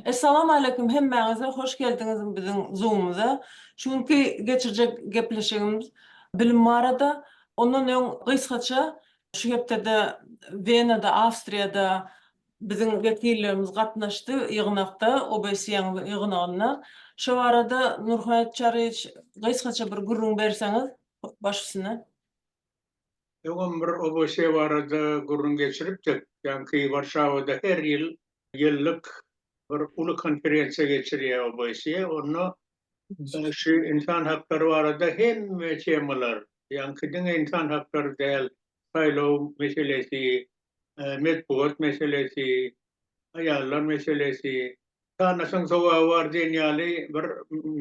Essalawmaleýkum hemmäňize hoş geldiňiz biziň zoomumyza. Şu günki geçirjek gepleşigimiz bilim barada. Ondan öň gysgaça şu hepdede Wenada Awstriýada biziň wekillerimiz gatnaşdy ýygnakda OBSE-iň ýygnagyna. Şo barada Nurhayat Çaryýewiç gysgaça bir gürrüň berseňiz. başysyna. Öňem bir Oboseýe barada gürrüň geçiripdik. Ýaňky Warşawada her ýyl ýyllyk bir uly konferensiýa geçirýär Oboseýe. Onda şu ynsan haklary barada hemme temalar, ýaňky diňe ynsan haklary däl, saýlaw meselesi, metbugat meselesi, aýallar meselesi, Sanasaň sowaby bar diýen ýaly bir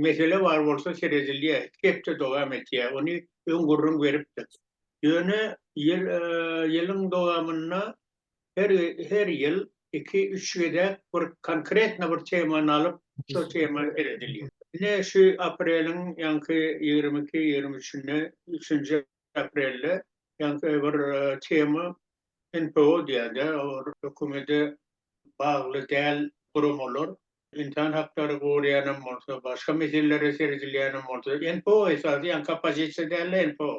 mesele bar bolsa seredilýär. Iki hepde dowam etýär. Ony öň gürrüň beripdik. Ýöne ýyl ýylyň dowamynda her her ýyl iki üç gezek bir konkretno bir temany alyp şo tema seredilýär. Ine şu apreliň ýaňky ýigrimi iki ýigrimi üçünde üçünji aprelde ýaňky bir tema NPO diýerler, olar hökümede bagly däl guramalar, ynsan haklary goraýanam bolsa, başga meselelere seredilýänem bolsa, NPO esasy ýaňky oppozisiýa däl-de NPO.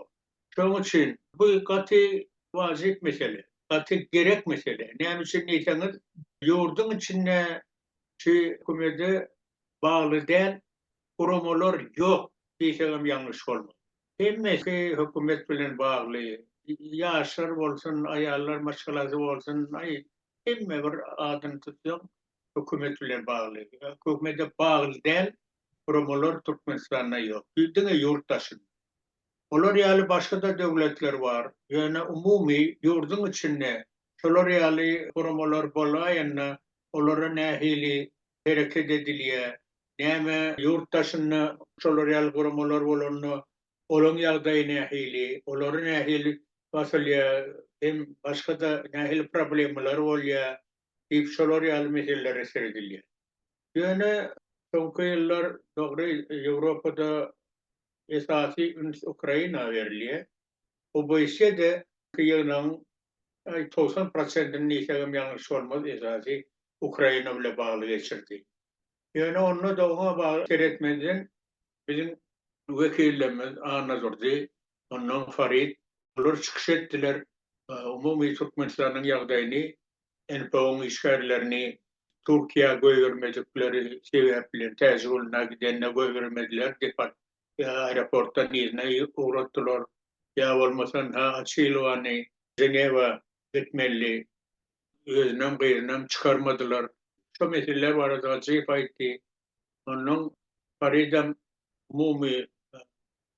Şonuň üçin bu gaty wajyp mesele, gaty gerek mesele. Näme üçin diýseňiz, ýurduň içinde şu hökümede bagly däl guramalar ýok diýsegem ýalňyş bolmaz. Hemmesi hökümet bilen bagly. Ýaşlar bolsun, aýallar maşgalasy bolsun, aý, hemme bir adyny tutsaň, hökümet bilen bagly. Hökümede bagly däl guramalar Türkmenistanda ýok. Diňe ýurt daşynda. Olar ýaly başga-da döwletler bar. Ýöne umumy ýurduň içinde şolar ýaly guramalar bolaýanda olara nähili hereket edilýär. Näme ýurt daşynda şolar ýaly guramalar bolanda, olaň ýagdaýy nähili, olary nähili basylýar, hem başga-da nähili problemalar bolýar diýip şolar ýaly meselelere seredilýär. Ýöne soňky ýyllar dogry Ýewropada esasy üns Ukraina berilýär. OBSE-de ýygnagyň togsan prosentini diýsegem ýalňyş bolmaz, esasy Ukraina bile bagly geçirdi. Ýöne onda-da oňa bagly seretmezden biziň wekillerimiz Anna Durdy, ondan Farid, olar çykyş etdiler, umumy Türkmenistanyň ýagdaýyny, NPO-nyň işgärlerini Türkiýä goýbermedikleri sebäpli, Täjiguluna gidende goýbermediler, ýa aeroportdan yzyna ugratdylar, ýa bolmasa Nha Açilowany Ženewa etmeli özünem gyzynam çykarmadylar. Şo meseleler barada Gajiýew aýtdy. Onnoň Faridem umumy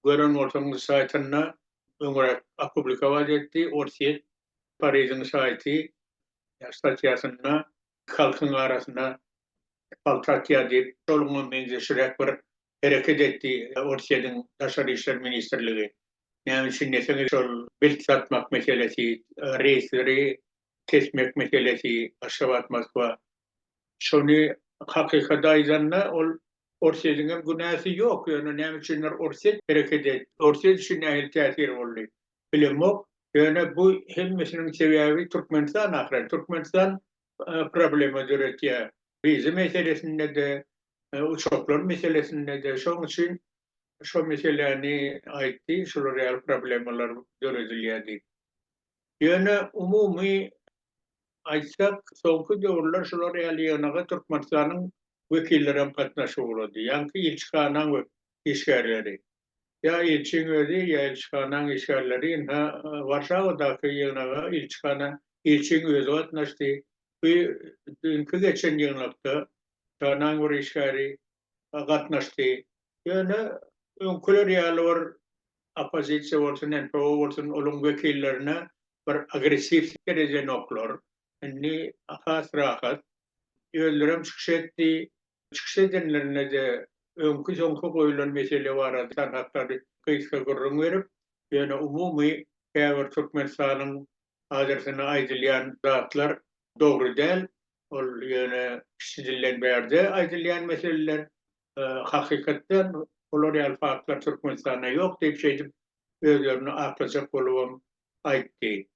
gören bolsaňyz saýtynda öňräk opublikować etdi, Orsýet Faridiň saýty ýa statýasynda halkyň arasyna palta atýar diýip, şoňa meňzeşiräk bir hereket etdi Orsýetiň Daşary işler ministrligi. Näme üçin diýseňiz, şol bilt satmak meselesi, reýsleri kesmek meselesi, Aşgabat, Moskwa. Şony hakykady aýdanda, ol Orsýetiň hem günäsi ýok, ýöne näme üçindir Orsýet hereket etdi. Orsýet üçin nähili täsir boldy? bilemok, ýöne bu hemmesiniň sebäbi Türkmenistan ahyry, Türkmenistan problema döretýär, wiza meselesinde-de, uçaklar meselesinde-de, şoň üçin şo meseläni aýtdy, şular ýaly problemalar döredilýär diýip. Ýöne umumy aýtsak, soňky döwürler şular ýaly ýygnaga Türkmenistanyň wekillerem gatnaşyp ugrady, ýaňky ilçihanaň işgärleri. Ýa ilçiň özi, ýa ilçihanaň işgärleri ynha, Warşawadaky ýygnaga ilçihana ilçiň özi gatnaşdy. Bu düýnki geçen ýygnakda çhanaň bir işgäri gatnaşdy. Ýöne öňküler ýaly bir oppozisiýa bolsun, NPO bolsun, olaryň wekillerine bir agressiw derejenoklar. Indi has rahat. Özlerem çykyş etdi. Çykyş edenlerinde-de öňki-soňky goýulan mesele barada tanap gysga gürrüň berip, ýöne umumy käbir Türkmenistanyň adresine aýdylýan zatlar dogry däl. Ol ýöne kiçi dilden bärde aýdylýan meseleler. Hakykatdan olar ýaly faktlar Türkmenistanda ýok diýip, şeýdip özlerini aklajak bolubam aýtdy.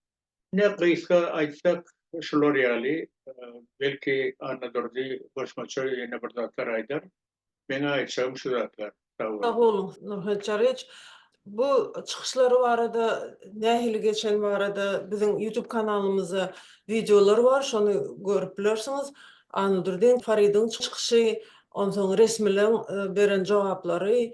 Ine gysga aýtsak şular ýaly, belki Annadurdy goşmaça ýene bir zatlar aýdar. Meň aýtjagym şu zatlar. Sag boluň. Sag boluň Nurhöt Çaryýewiç. Bu çykyşlary barada nähili geçeni barada biziň YouTube kanalymyzda wideolar bar şony görüp bilersiňiz. Annadurdyň, Faridiň çykyşy, onsoň resmileň beren jogaplary,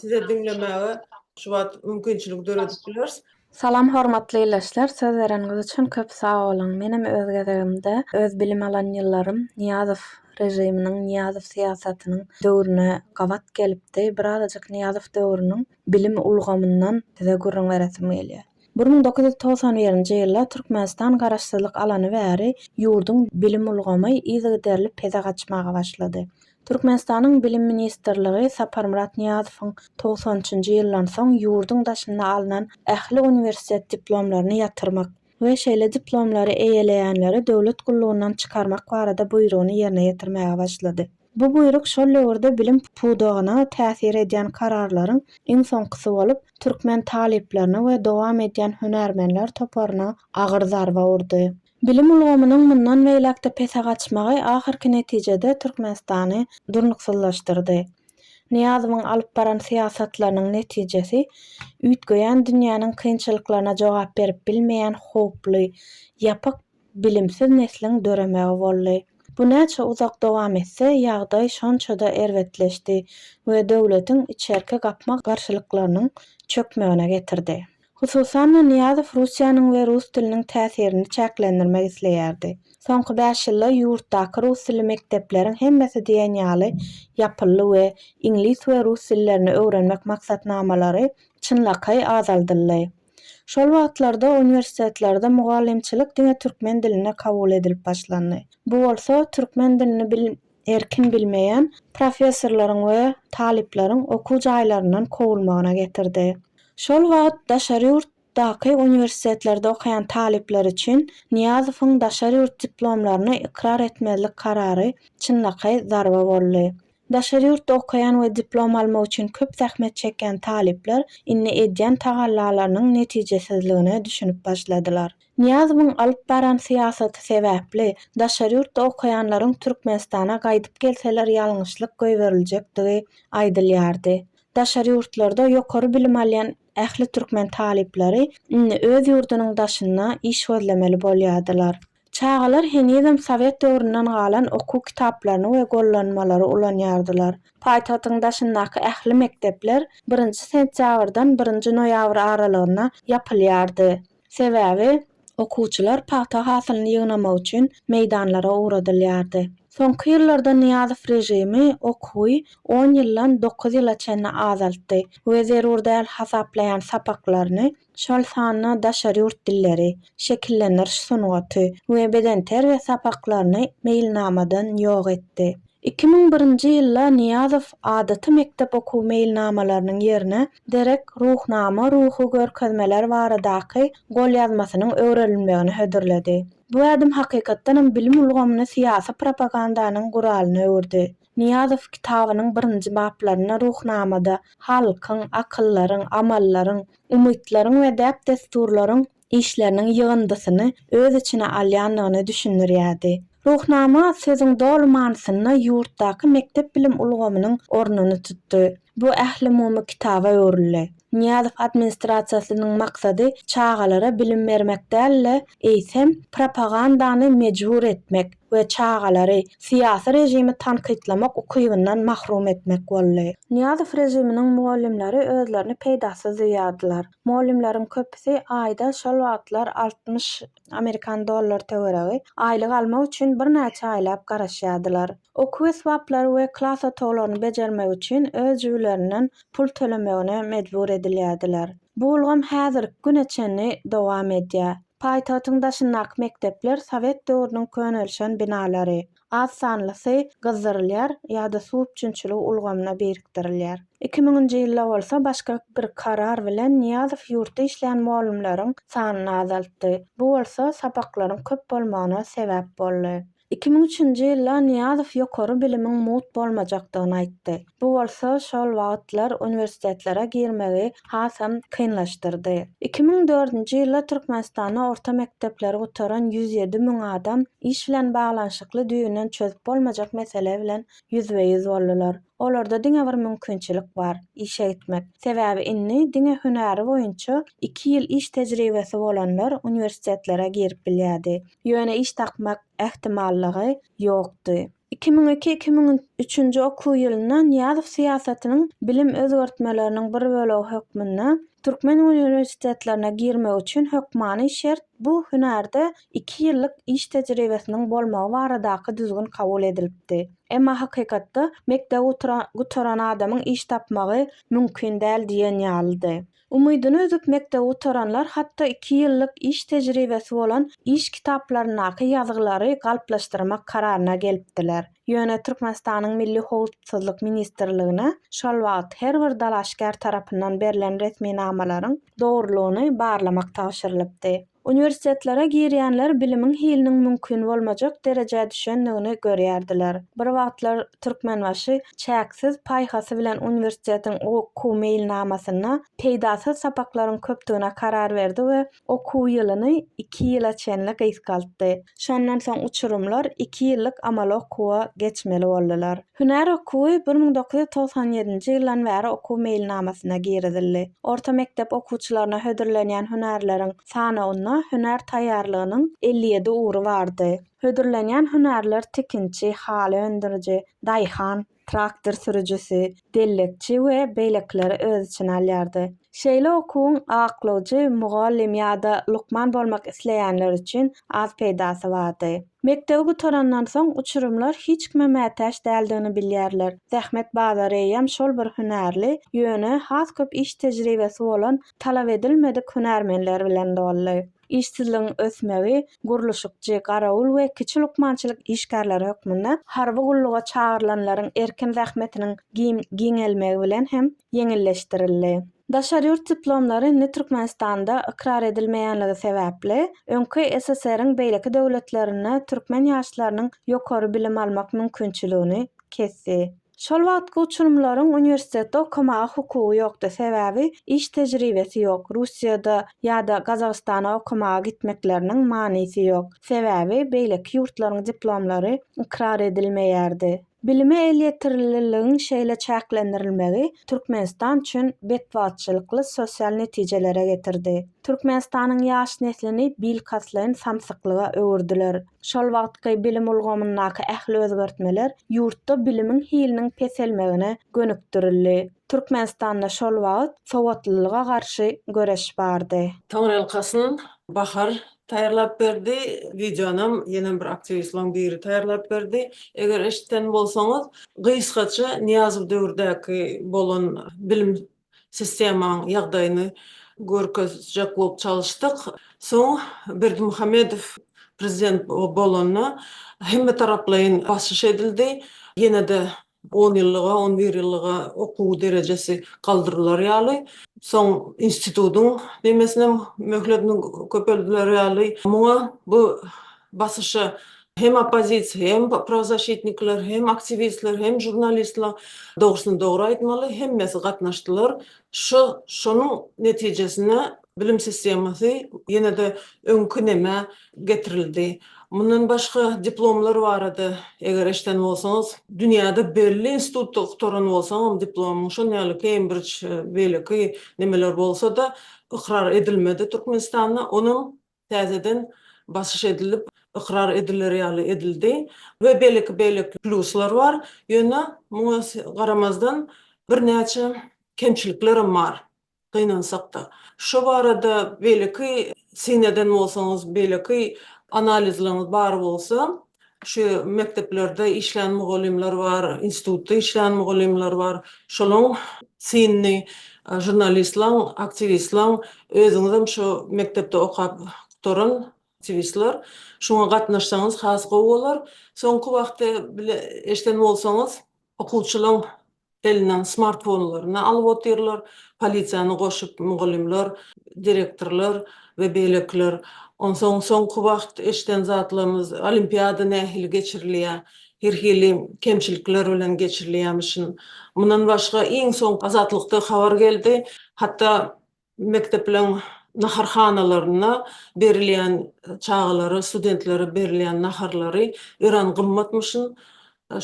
size diňlemäge şu wagt mümkinçilik döredip bileris. Salam hormatly ildeşler, söz bereniňiz üçin köp sag boluň. Menem öz gezegimde öz bilim alan ýyllarym Nyýazow režiminiň, Nyýazow syýasatynyň döwrüne gabat gelipdi. Birazajyk Nyýazow döwrüniň bilim ulgamyndan size gürrüň beresim gelýär. Bir müň dokuz ýüz togsan birinji ýylda Türkmenistan garaşsyzlyk alany bäri ýurduň bilim ulgamy yzygiderli pese gaçmaga başlady. Türkmenistanyň Bilim ministrligi Saparmyrat Nyýazowyň togsanynjy ýyldan soň ýurduň daşynda alnan ähli uniwersitet diplomlaryny ýatyrmak we şeýle diplomlary eýeleýänleri döwlet gullugyndan çykarmak barada buýrugyny ýerine ýetirmäge başlady. Bu buýruk şol döwürde bilim pudagyna täsir edýän kararlaryň iň soňkusy bolup, türkmen talyplaryna we dowam edýän hünärmenler toparyna agyr zarba urdy. Bilim ulgamynyň mundan beýläk-de pese gaçmagy ahyrky netijede Türkmenistany durnuksyzlaşdyrdy. Nyýazowyň alyp baran syýasatlarynyň netijesi üýtgeýän dünýäniň kynçylyklaryna jogap berip bilmeýän howply, ýapyk, bilimsiz nesliň döremegi boldy. Bu näçe uzak dowam etse, ýagdaý şonça-da erbetleşdi we döwletiň içerki gapma-garşylyklarynyň çökmegine getirdi. Hususan-da, Nyýazow Russiýanyň we rus diliniň täsirini çäklendirmek isleýärdi. Soňky bäş ýylda ýurtdaky rus dilli mekdepleriň hemmesi diýen ýaly ýapyldy we iňlis we rus dillerini öwrenmek maksatnamalary çynlakaý azaldyldy. Şol wagtlarda uniwersitetlerde mugallymçylyk diňe türkmen dilinde kabul edilip başlandy. Bu bolsa türkmen dilini erkin bilmeýän professorlaryň we talyplaryň okuw jaýlaryndan kowulmagyna getirdi. Şol wagt daşary ýurtdaky uniwersitetlerde okaýan talyplar üçin Nyýazowyň daşary ýurt diplomlaryny ykrar etmezlik karary çynlakaý zarba boldy. Daşary ýurtda okaýan we diplom almak üçin köp zähmet çekýän talyplar indi edýän tagallalarynyň netijesizligine düşünip başladylar. Nyýazowyň alyp baran syýasaty sebäpli, daşary ýurtda okaýanlaryň Türkmenistana gaýdyp gelseler ýalňyşlyk goýberiljekdigi aýdylýardy. Daşary ýurtlarda ýokary bilim alýan ähli türkmen talyplary indi öz ýurdunyň daşynda iş gözlemeli bolýardylar. Çagalar henizem sowet döwründen galan okuw kitaplaryny we gollanmalary ulanýardylar. Paýtagtyň daşyndaky ähli mekdepler birinji sentýabrdan birinji noýabr aralygynda ýapylýardy. Sebäbi, okuwçylar pagta hasylyny ýygnamak üçin meýdanlara ugradylýardy. Soňky ýyllarda Nyýazow režimi okuwy on ýyldan dokuz ýyla çenli azaltdy we zerur däl hasaplaýan sapaklaryny, şol sanda daşary ýurt dilleri, şekillendiriş sungaty we bedenterbiýe sapaklaryny meýilnamadan ýok etdi. Iki müň birinji ýylda Nyýazow adaty mekdep okuw meýilnamalarynyň ýerine Derek, Ruhnama, Ruhy görkezmeler baradaky golýazmasynyň öwrenilmegini hödürledi. Bu ädim hakykatdanam bilim ulgamyny syýasy propagandanyň guralyna öwürdi. Nyýazow kitabynyň birinji baplarynda Ruhnamada halkyň, akyllaryň, amallaryň, umytlaryň we däp-dessurlaryň işleriniň ýygyndysyny öz içine alýandygyny düşündirýärdi. Ruhnama sözüň doly manysynda ýurtdaky mekdep bilim ulgamynyň ornuny tutdy. Bu ählumumy kitaba öwrüldi. Nyýazow administrasiýasynyň maksady çagalara bilim bermek däl-de, eýsem, propagandany mejbur etmek we çagalary syýasy režimi tankytlamak ukybyndan mahrum etmek boldy. Nyýazow režiminiň mugallymlary özlerini peýdasyz duýýardylar. Mugallymlaryň köpüsi aýda şol wagtlar altmyş amerikan dollar töweregi aýlyk almak üçin birnäçe aýlap garaşýardylar. Okuw esbaplary we klas otaglaryny bejermek üçin öz jübülerinden pul tölemegine mejbur edilýärdiler. Bu ulgam häzirki güne çenli dowam edýär. Paýtagtyň daşyndaky mekdepler sowet döwrüniň könelişen binalary. az sanlysy gyzdyrylýar ýa-da suw üpjünçiligi ulgamyna birikdirilýär. Iki müňünji ýylda bolsa başga bir karar bilen Nyýazow ýurtda işleýän mugallymlaryň sanyny azaltdy, bu bolsa sapaklaryň köp bolmagyna sebäp boldy. Iki müň üçünji ýylda Nyýazow ýokary bilimiň mugt bolmajakdygyny aýtdy. Bu bolsa şol wagtlar uniwersitetlere girmegi hasam kynlaşdyrdy. Iki müň dördünji ýylda Türkmenistanda orta mekdepleri gutaran ýüz ýedi müň adam iş bilen baglanyşykly düýbünden çözüp bolmajak mesele bilen ýüzbe-ýüz boldular. Olarda diňe bir mümkinçilik bar, işe gitmek. Sebäbi indi diňe hünäri boýunça iki ýyl iş tejribesi bolanlar uniwersitetlere girip bilýärdi. Ýöne iş tapmak ähtimallygy ýokdy. Iki müň iki, iki müň üçünji okuw ýylynda Nyýazow syýasatynyň bilim özgertmeleriniň bir bölegi hökmünde türkmen uniwersitetlerine girmek üçin hökmany şert bu hünärde iki ýyllyk iş tejribesiniň bolmagy baradaky düzgün kabul edilipdi. Emma hakykatda mekdebi gutaran adamyň iş tapmagy mümkin däl diýen ýalydy. Umydyny üzüp mekdebi gutaranlar hatda iki ýyllyk iş tejribesi bolan iş kitaplaryndaky ýazgylary galplaşdyrmak kararyna gelipdiler. Ýöne Türkmenistanyň Milli howpsuzlyk ministrligine şol wagt her bir dalaşgär tarapyndan berlen resminamalaryň dogrulygyny barlamak tabşyrylypdy. Uniwersitetlere girýänler bilimiň hiliniň mümkin bolmajak derejä düşendigini görýärdiler. Bir wagtlar Türkmenbaşy çäksiz paýhasy bilen uniwersitetiň okuw meýilnamasynda peýdasyz sapaklaryň köpdügine karar berdi we okuw ýylyny iki ýyla çenli gysgaltdy. Şondan soň uçurymlar iki ýyllyk amaly okuwa geçmeli boldular. Hünär okuwy bir müň dokuz ýüz togsan ýedinji ýyldan bäri okuw meýilnamasyna girizildi. Orta mekdep okuwçylaryna hödürlenýän hünärleriň sanawynda hünär taýýarlygynyň elli ýedi ugry bardy. Hödürlenýän hünärler tikinçi, haly öndüriji, daýhan, traktor sürüjisi, dellekçi we beýlekileri öz içine alýardy. Şeýle okuwyň aklawjy mugallym ýa-da lukman bolmak isleýänler üçin az peýdasy bardy. Mekdebi gutarandan soň uçurymlar hiç kime mätäç däldigini bilýärler. Zähmet bazary eýýäm şol bir hünärli, ýöne has köp iş tejribesi bolan talap edilmedik hünärmenler bilen doldy. Işsizligiň ösmegi gurluşykçy, garawul we kiçi lukmançylyk işgärleri hökmünde harby gulluga çagyrylanlaryň erkin zähmetiniň giňelmegi bilen hem ýeňilleşdirildi. Daşary ýurt diplomlary indi Türkmenistanda ykrar edilmeýänligi sebäpli, öňki SSR-iň beýleki döwletlerinde türkmen ýaşlarynyň ýokary bilim almak mümkinçiligini kesdi. Şol wagtky uçurymlaryň uniwersitetde okamaga hukugy ýokdy, sebäbi iş tejribesi ýok, Russiýada ýa-da Gazagystana okamaga gitmekleriniň manysy ýok, sebäbi beýleki ýurtlaryň diplomlary ykrar edilmeýärdi. Bilime elýeterliligiň şeýle çäklendirilmegi Türkmenistan üçin betbagtçylykly sosial netijelere getirdi. Türkmenistanyň ýaş neslini bilkastlaýyn samsyklyga öwürdiler. Şol wagtky bilim ulgamyndaky ähli özgertmeler ýurtda bilimiň hiliniň peselmegine gönükdirildi. Türkmenistanda şol wagt sowatlylyga garşy göreş bardy. Taňryýalkasyn Bahar taýýarlap berdi. Wideonam ýene bir aktiwistleriň biri taýýarlap berdi. Eger eşiden bolsaňyz, gysgaça Nyýazow döwürdäki bolan bilim Sistemanyň ýagdaýyny görkezjek bolup çalyşdyk. Soň Berdimuhamedow prezident bolanda hemmetaraplaýyn basyş edildi. Ýene-de on ýyllyga, on bir ýyllyga okuw derejesi galdyrylar ýaly, soň institutyň nemesinem möhletini köpeldiler ýaly. Muňa bu basyşa Hem oppozisiýa, hem prawzaşitnikler, hem aktiwistler, hem žurnalistler, dogrusyny dogry aýtmaly, hemmesi gatnaşdylar. Şu, şonuň netijesinde bilim sistemasy ýene-de öňki nämä getirildi. Mundan başga, diplomlar barada eger eşden bolsaňyz, dünýäde belli institutda gutaran bolsaňam diplomyň, şol ýaly Kembrij, beýleki nemeler bolsa-da, ykrar edilmedi Türkmenistanda. Onam täzeden basyş edilip, ykrar ediler ýaly edildi we beýleki beýleki pluslar bar. Ýöne muňa garamazdan birnäçe kemçiliklerem bar gynansakda. Şo barada beýleki syn eden bolsaňyz, beýleki analizleriňiz bar bolsa, Şu mekdeplerde işlän mugallymlar bar, institutda işlän mugallymlar bar. Şolaň synyny žurnalistlaň, aktiwistlaň, özüňizem şu mekdepde okap gutaran aktiwistler, şuňa gatnaşsaňyz has gowy bolar. Soňky wagtda bile eşden bolsaňyz, Okuwçylaň elinden smartfonlaryny alyp otyrlar, polisiýany goşup mugallymlar, direktorlar we beýlekiler. Onsoň soňky wagt eşiden zatlarymyz olimpiada nähili geçirilýär, her hili kemçilikler bilen geçirilýärmişin. Mundan başga iň soňky Azatlykda habar geldi, hatda Mekdepleriň naharhanalarynda berilýän çagalara, studentlere berilýän naharlary örän gymmatmyşyn.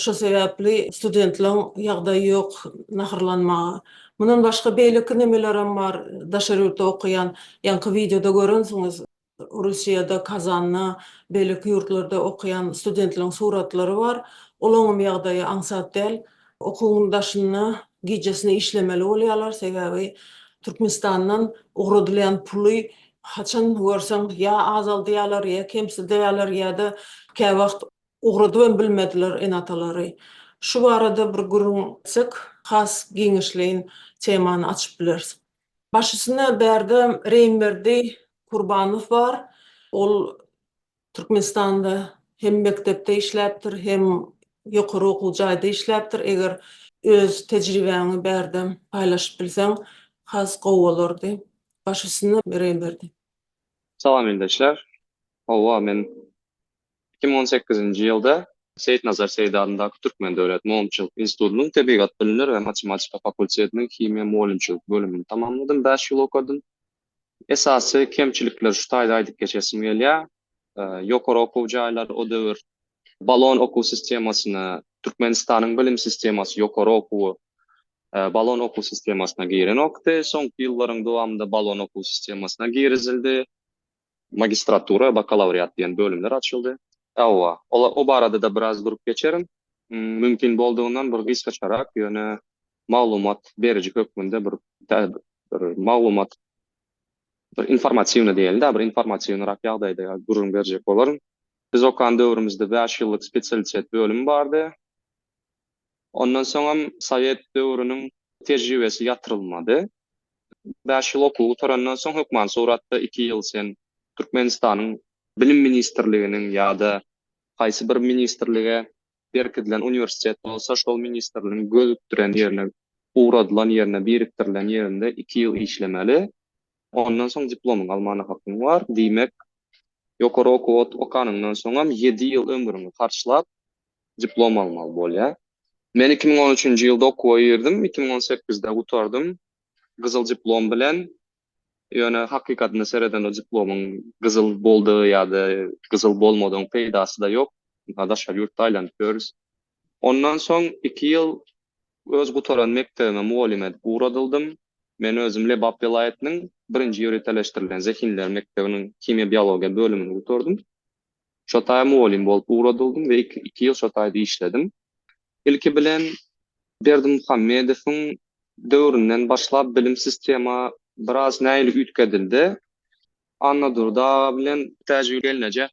Şo sebäpli studentleriň ýagdaýy ýok naharlanmaga. Mundan başga beýleki nemelerem bar, daşary ýurtda okaýan, ýaňky wideoda görensiňiz. Russiýada, Kazanda, beýleki ýurtlarda okaýan studentleriň suratlary bar. Olaňam ýagdaýy aňsat däl. Okuwyň daşynda gijesine işlemeli bolýarlar, sebäbi Türkmenistandan ugradylýan puly haçan görseň ýa azaldýarlar, ýa kemsidýärler, ýa-da käwagt ugradyp hem bilmediler ene-atalary. Şu barada bir gürrüň etsek, has giňişleýin temany açyp bileris. Başysyna bärde Reýmberdi Kurbanow bar. Ol Türkmenistanda hem mekdepde işläpdir, hem ýokary okuw jaýda işläpdir. Eger öz tejribäňi bärde paýlaşyp bilseň, has gowy bolardy. Başysyna Reýmberdi. Salam ildeşler. Howwa men Iki müň on sekizinji ýylda Seýitnazar Seýdi adyndaky Türkmen döwlet mugallymçylyk institutynyň Tebigat bilimleri we matematika fakultetiniň himiýa mugallymçylyk bölümini tamamladym, bäş ýyl okadym. Esasy kemçilikleri şu taýda aýdyp geçesim gelýär. Ýokary okuw jaýlary o döwür Bolon okuw sistemasyna, Türkmenistanyň bilim sistemasy ýokary okuwy Bolon okuw sistemasyna girenokdy. Soňky ýyllaryň dowamynda Bolon okuw sistemasyna girizildi. Magistratura, bakalawriat diýen bölümler açyldy. Hawa, olar o barada-da biraz durup geçerin. Mümkin boldugyndan bir gysgaçarak, ýöne maglumat beriji hökmünde bir bir maglumat bir informatiwnyý diýeli-de, bir informatiwnyrak ýagdaýda gürrüň berjek bolaryn. Biz okan döwrümizde bäş ýyllyk spesialitet bölümi bardy. Ondan soňam sowet döwrüniň tejribesi ýatyrylmady. Bäş ýyl okuw gutarandan soň hökman suratda iki ýyl sen Türkmenistanyň Bilim ministrliginiň ýa-da haýsy bir ministrlige berkidilen uniwersitet bolsa şol ministrligiň gözükdiren ýerine ugradylan ýerine birikdirilen ýerinde iki ýyl işlemeli. Ondan soň diplomyňy almana hakyň bar. Diýmek, ýokary okuw okanyňdan soňam ýedi ýyl ömrüňi harçlap diplom almaly bolýar. Men iki müň on üçünji ýylda okuwa girdim, iki müň on sekizde gutardym gyzyl diplom bilen. Ýöne hakykatyna seredende diplomyň gyzyl boldugy ýa-da gyzyl bolmadygyň peýdasy-da ýok. Ynha daşary ýurtda aýlanyp ýörüs. Ondan soň iki ýyl öz gutaran mekdebime mugallym edip ugradyldym. Men özüm Lebap welaýatynyň birinji ýöriteleşdirilen zehinler mekdebiniň himiýa-biologiýa bölümini gutardym. Şo taýa mugallym bolup ugradylydym we iki ýyl şo taýda işledim. Ilki bilen Berdimuhamedowyň döwründen başlap bilim sistema biraz nähili üýtgedildi. Annadurdy aga bilen Täjigül gelneje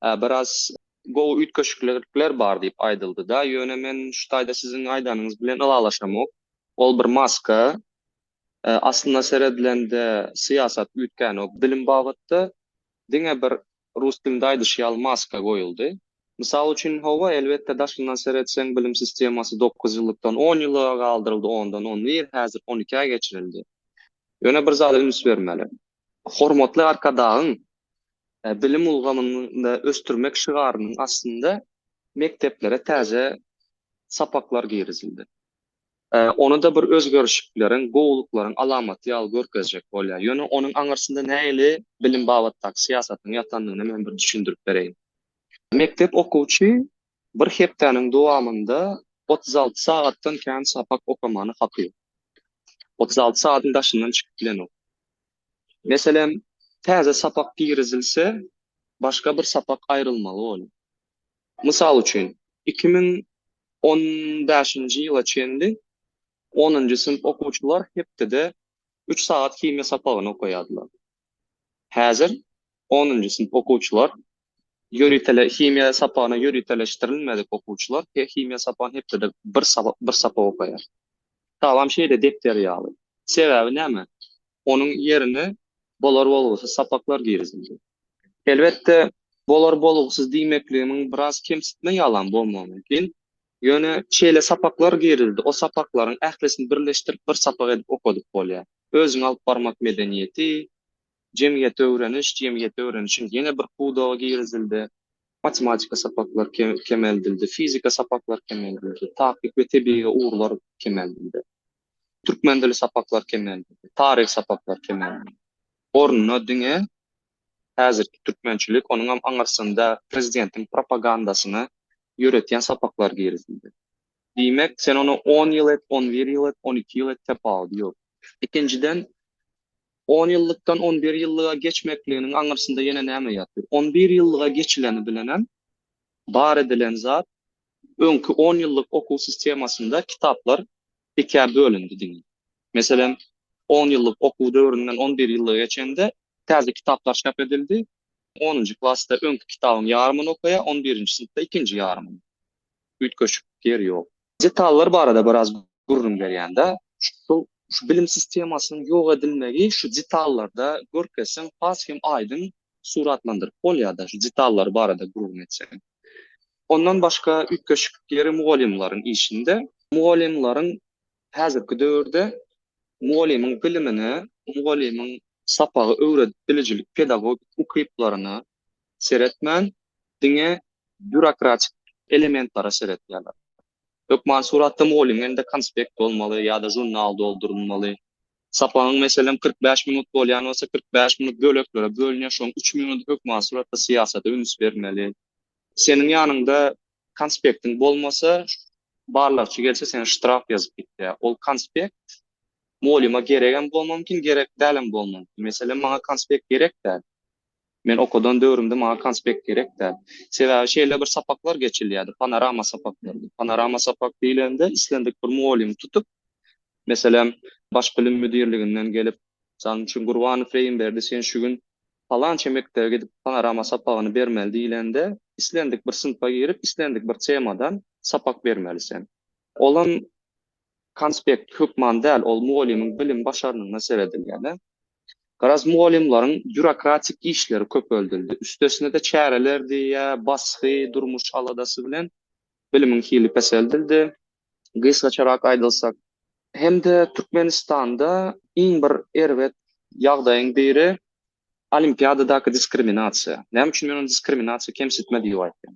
biraz gowy üýtgeşiklikler bar diýip aýdyldy-da, ýöne men şu taýda siziň aýdanyňyz bilen ylalaşamok. Ol bir maska. Aslynda seredilende syýasat üýtgänok bilim babatda. diňe bir rus dilinde aýdyş ýaly maska goýuldy. Mysal üçin, hawa, elbetde, daşyndan seretseň, bilim sistemasy dokuz ýyllykdan on ýyllyga galdyryldy, ondan on bir, häzir on ikä geçirildi. Ýöne bir zada üns bermeli. Hormatly Arkadagyň Bilim ulgamyny ösdürmek şygarynyň astynda mekdeplere täze sapaklar girizildi. Ony-da bir özgerişikleriň, gowulyklaryň alamaty ýaly görkezjek bolýar. Ýöne onuň aňyrsynda nähili bilim babatdaky syýasatyň ýatandygyny men bir düşündirip bereýin. Mekdep okuwçy bir hepdäniň dowamynda otuz alty sagatdan kän sapak okamany hakyk. Otuz alty sagatyň daşyndan çykyp bilenok. Meselem, täze sapak girizilse, başga bir sapak aýrylmaly bolýar. Mysal üçin, iki müň on bäşinji ýyla çenli onunjy synp okuwçylar hepdede üç sagat himiýa sapagyny okaýardylar. Häzir onunjy synp okuwçylar ýöritele himiýa sapagyna ýöriteleşdirilmedik okuwçylar he himiýa sapagyny hepdede bir bir sapak okaýar. Salam şeýle depder ýaly. Sebäbi näme? onuň ýerine bolar-bolgusyz sapaklar girizildi. Elbetde, bolar-bolgusyz diýmekligimiň biraz kemsitme ýalam bolmagy mümkin. Ýöne şeýle sapaklar girizildi, o sapaklaryň ählisini birleşdirip bir sapak edip okadyp bolýar. Özüňi alyp barmak medeniýeti, jemgyýeti öwreniş, jemgyýeti öwrenişiň ýene bir pudagy girizildi. Matematika sapaklary kemeldildi, fizika sapaklary kemeldildi, takyk we tebigy ugurlar kemeldildi. Türkmen dili sapaklar kemeldi. Taryh sapaklar kemeldi. Ornuna diňe häzirki türkmençilik, onuňam aňyrsynda prezidentiň propagandasyny ýöretýän sapaklar girizildi. Diýmek, sen ony on ýyl et, on bir ýyl et, on iki ýyl et, tapawudy ýok. Ikinjiden, on ýyllykdan on bir ýyllyga geçmekliginiň aňyrsynda ýene näme ýatyr? On bir ýyllyga geçileni bilenem bar edilen zat Öňki on ýyllyk okuw sistemasynda kitaplar ikä bölündi diňe. Meselem, on ýyllyk okuw döwründen on bir ýyllyga geçende täze kitaplar çap edildi, onunjy klasda öňki kitabyň ýarymyny okaýar, on birinji synpda ikinji ýarymyny. Üýtgeşik ýeri ýok. Detallar barada biraz gürrüň berýän-dä. Şol şu bilim sistemasynyň ýok edilmegi şu detallarda görkezseň has hem aýdyň suratlandyryp bolýar-da, şu detallar barada gürrüň etseň. Ondan başga üýtgeşiklikleri mugallymlaryň işinde, mugallymlaryň häzirki döwürde mugallymyň bilimine, mugallymyň sapagy öwredip bilijilik pedagogik ukyplaryna seretmän, diňe býurokratik elementlere seretýärler. Hökmany suratda mugallymyň elinde konspekt bolmaly ýa-da žurnal doldurylmaly. Sapagyň, meselem, kyrk bäş minut bolýan bolsa, kyrk bäş minut böleklere bölünýär, şonuň üç minudy hökmany suratda syýasata üns bermeli. Seniň ýanyňda konspektiň bolmasa, barlagçy gelse seni ştraf ýazyp gitýär. Ol konspekt mugallyma geregem bolmagy mümkin, gerek dälem bolmagy mümkin. Meselem, maňa konspekt gerek däl. Men okadan döwrümde maňa konspekt gerek däl. Sebäbi şeýle bir sapaklar geçilýärdi, panorama sapaklary. Panorama sapak diýlende islendik bir mugallymy tutup, meselem, Baş bilim müdirliginden gelip, Mysal üçin, Gurbanow Reýimberdi, sen şu gün Palança mekdebe gidip panorama sapagyny bermeli diýlende, islendik bir synpa girip, islendik bir temadan sapak bermeli sen. Olam konspekt hökman däl, ol mugallymyň bilim başarnygyna seredilýär-de. Garaz, mugallymlaryň býurokratik işleri köpeldildi. Üstesine-de çäreler diýýär, basgy, durmuş aladasy bilen bilimiň hili peseldildi. gysgaçarak aýdylsa. Hem-de Türkmenistanda iň bir erbet ýagdaýyň biri olimpiadadaky diskriminasiýa. Näme üçin men ony diskriminasiýa, kemsitme diýip aýtýan?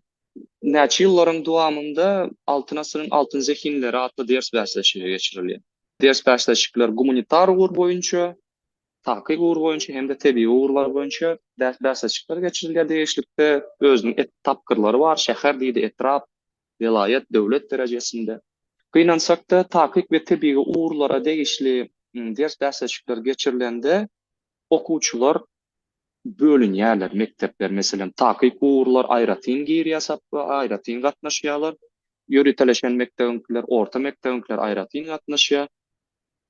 Näçe ýyllaryň dowamynda Altyn asyryň altyn zehinleri atly ders bäsleşigi geçirilýär. Ders bäsleşikler gumanitar ugur boýunça, takyk ugur boýunça hem-de tebigy ugurlar boýunça ders bäsleşikler geçirilýär degişlikde özüniň et tapgyrlary bar, şäher diýdi, etrap, welaýat, döwlet derejesinde, gynansak-da, takyk we tebigy ugurlara degişli ders bäsleşikler geçirilende okuwçylar bölünýärler, mekdepler, meselem, takyk ugurlar aýratyn girýär sapba, aýratyn gatnaşýarlar, ýöriteleşen mekdebiňkiler, orta mekdebiňkiler aýratyn gatnaşýar.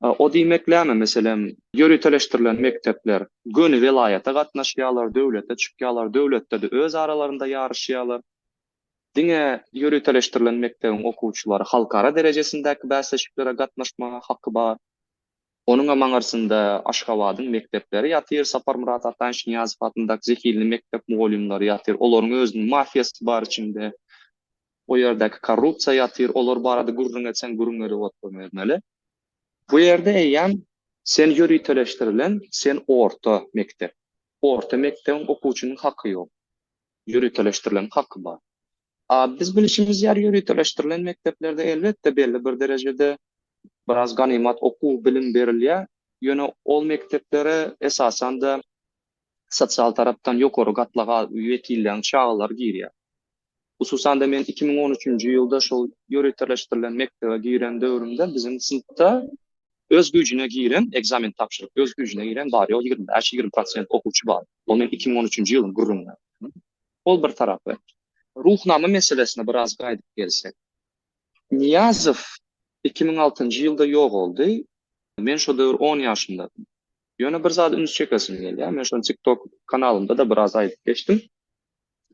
O diýmeklämi, meselem, ýöriteleşdirilen mekdepler göni welaýata gatnaşýarlar, döwlete çykýarlar, döwletde-de öz aralarynda ýaryşýarlar. Diňe ýöriteleşdirilen mekdebiň okuwçylary halkara derejesindäki bäsleşiklere gatnaşmaga haky bar. Onuňam aňyrsynda Aşgabadyň mekdepleri ýatyr, Saparmyrat Ataýewiç-Nyýazow adyndaky zehinli mekdep mugallymlary ýatyr, olaryň özüniň mafiýasy bar içinde. O ýerdäki korrupsiýa ýatyr, olar barada gürrüň etseň gürrüň edip oturbermeli. Bu ýerde eýýäm sen ýöriteleşdirilen, sen orta mekdep. Orta mekdebiň okuwçynyň haky ýok. ýöriteleşdirilen haky bar. A biz bilişimiz ýaly ýöriteleşdirilen mekdeplerde elbetde belli bir derejede biraz ganymat okuw, bilim berilýär, ýöne ol mekdeplere esasanda sosial tarapdan ýokary gatlaga wekillen çagalar girýär. Hususanda men iki müň on üçünji ýylda şol ýöriteleşdirilen mekdebe giren döwrümde biziň synpda öz güýjüne giren ekzamen tabşyryp öz güýjüne giren bary ýogy ýigrimi bäş, ýigrimi prosent okuwçy bar. Ol men iki müň on üçünji ýylyň gürrüňini aýtdym. Ol bir tarapy. Ruhnama meselesine biraz gaýdyp gelsek. Nyýazow iki müň altynjy ýylda ýogaldy. Men şo döwür on ýaşymdadym. Ýöne bir zady üns çekesim gelýär. Men şony TikTok kanalymda-da biraz aýdyp geçdim.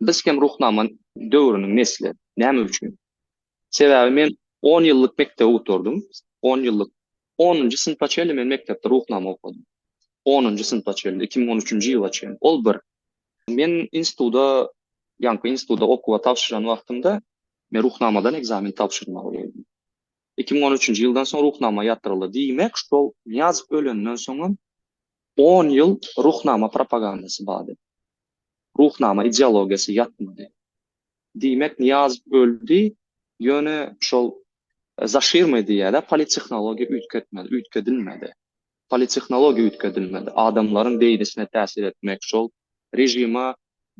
Biz hem Ruhnama döwrüniň nesli. Näme üçin? Sebäbi men on ýyllyk mekdebi gutardym. On ýyllyk, onunjy synpa çenli men mekdepde Ruhnama okadym. Onunjy synpa çenli, iki müň on üçünji ýyla çenli. Ol bir. Men instituda, ýaňky instituda okuwa tabşyran wagtymda men Ruhnamadan ekzamen tabşyrmaly boldum. Iki müň on üçünji ýyldan soň Ruhnama ýatyryldy. Diýmek, şol Nyýazow ölenden soňam on ýyl Ruhnama propagandasy bardy. Ruhnama ideologiýasy ýatmady. Diýmek Nyýazow öldi, ýöne şol zaşirmay diýýädä politehnologiýa üýtgetmedi, üýtgedilmedi. Politehnologiýa üýtgedilmedi. Adamlaryň beýnisine täsir etmek şol režime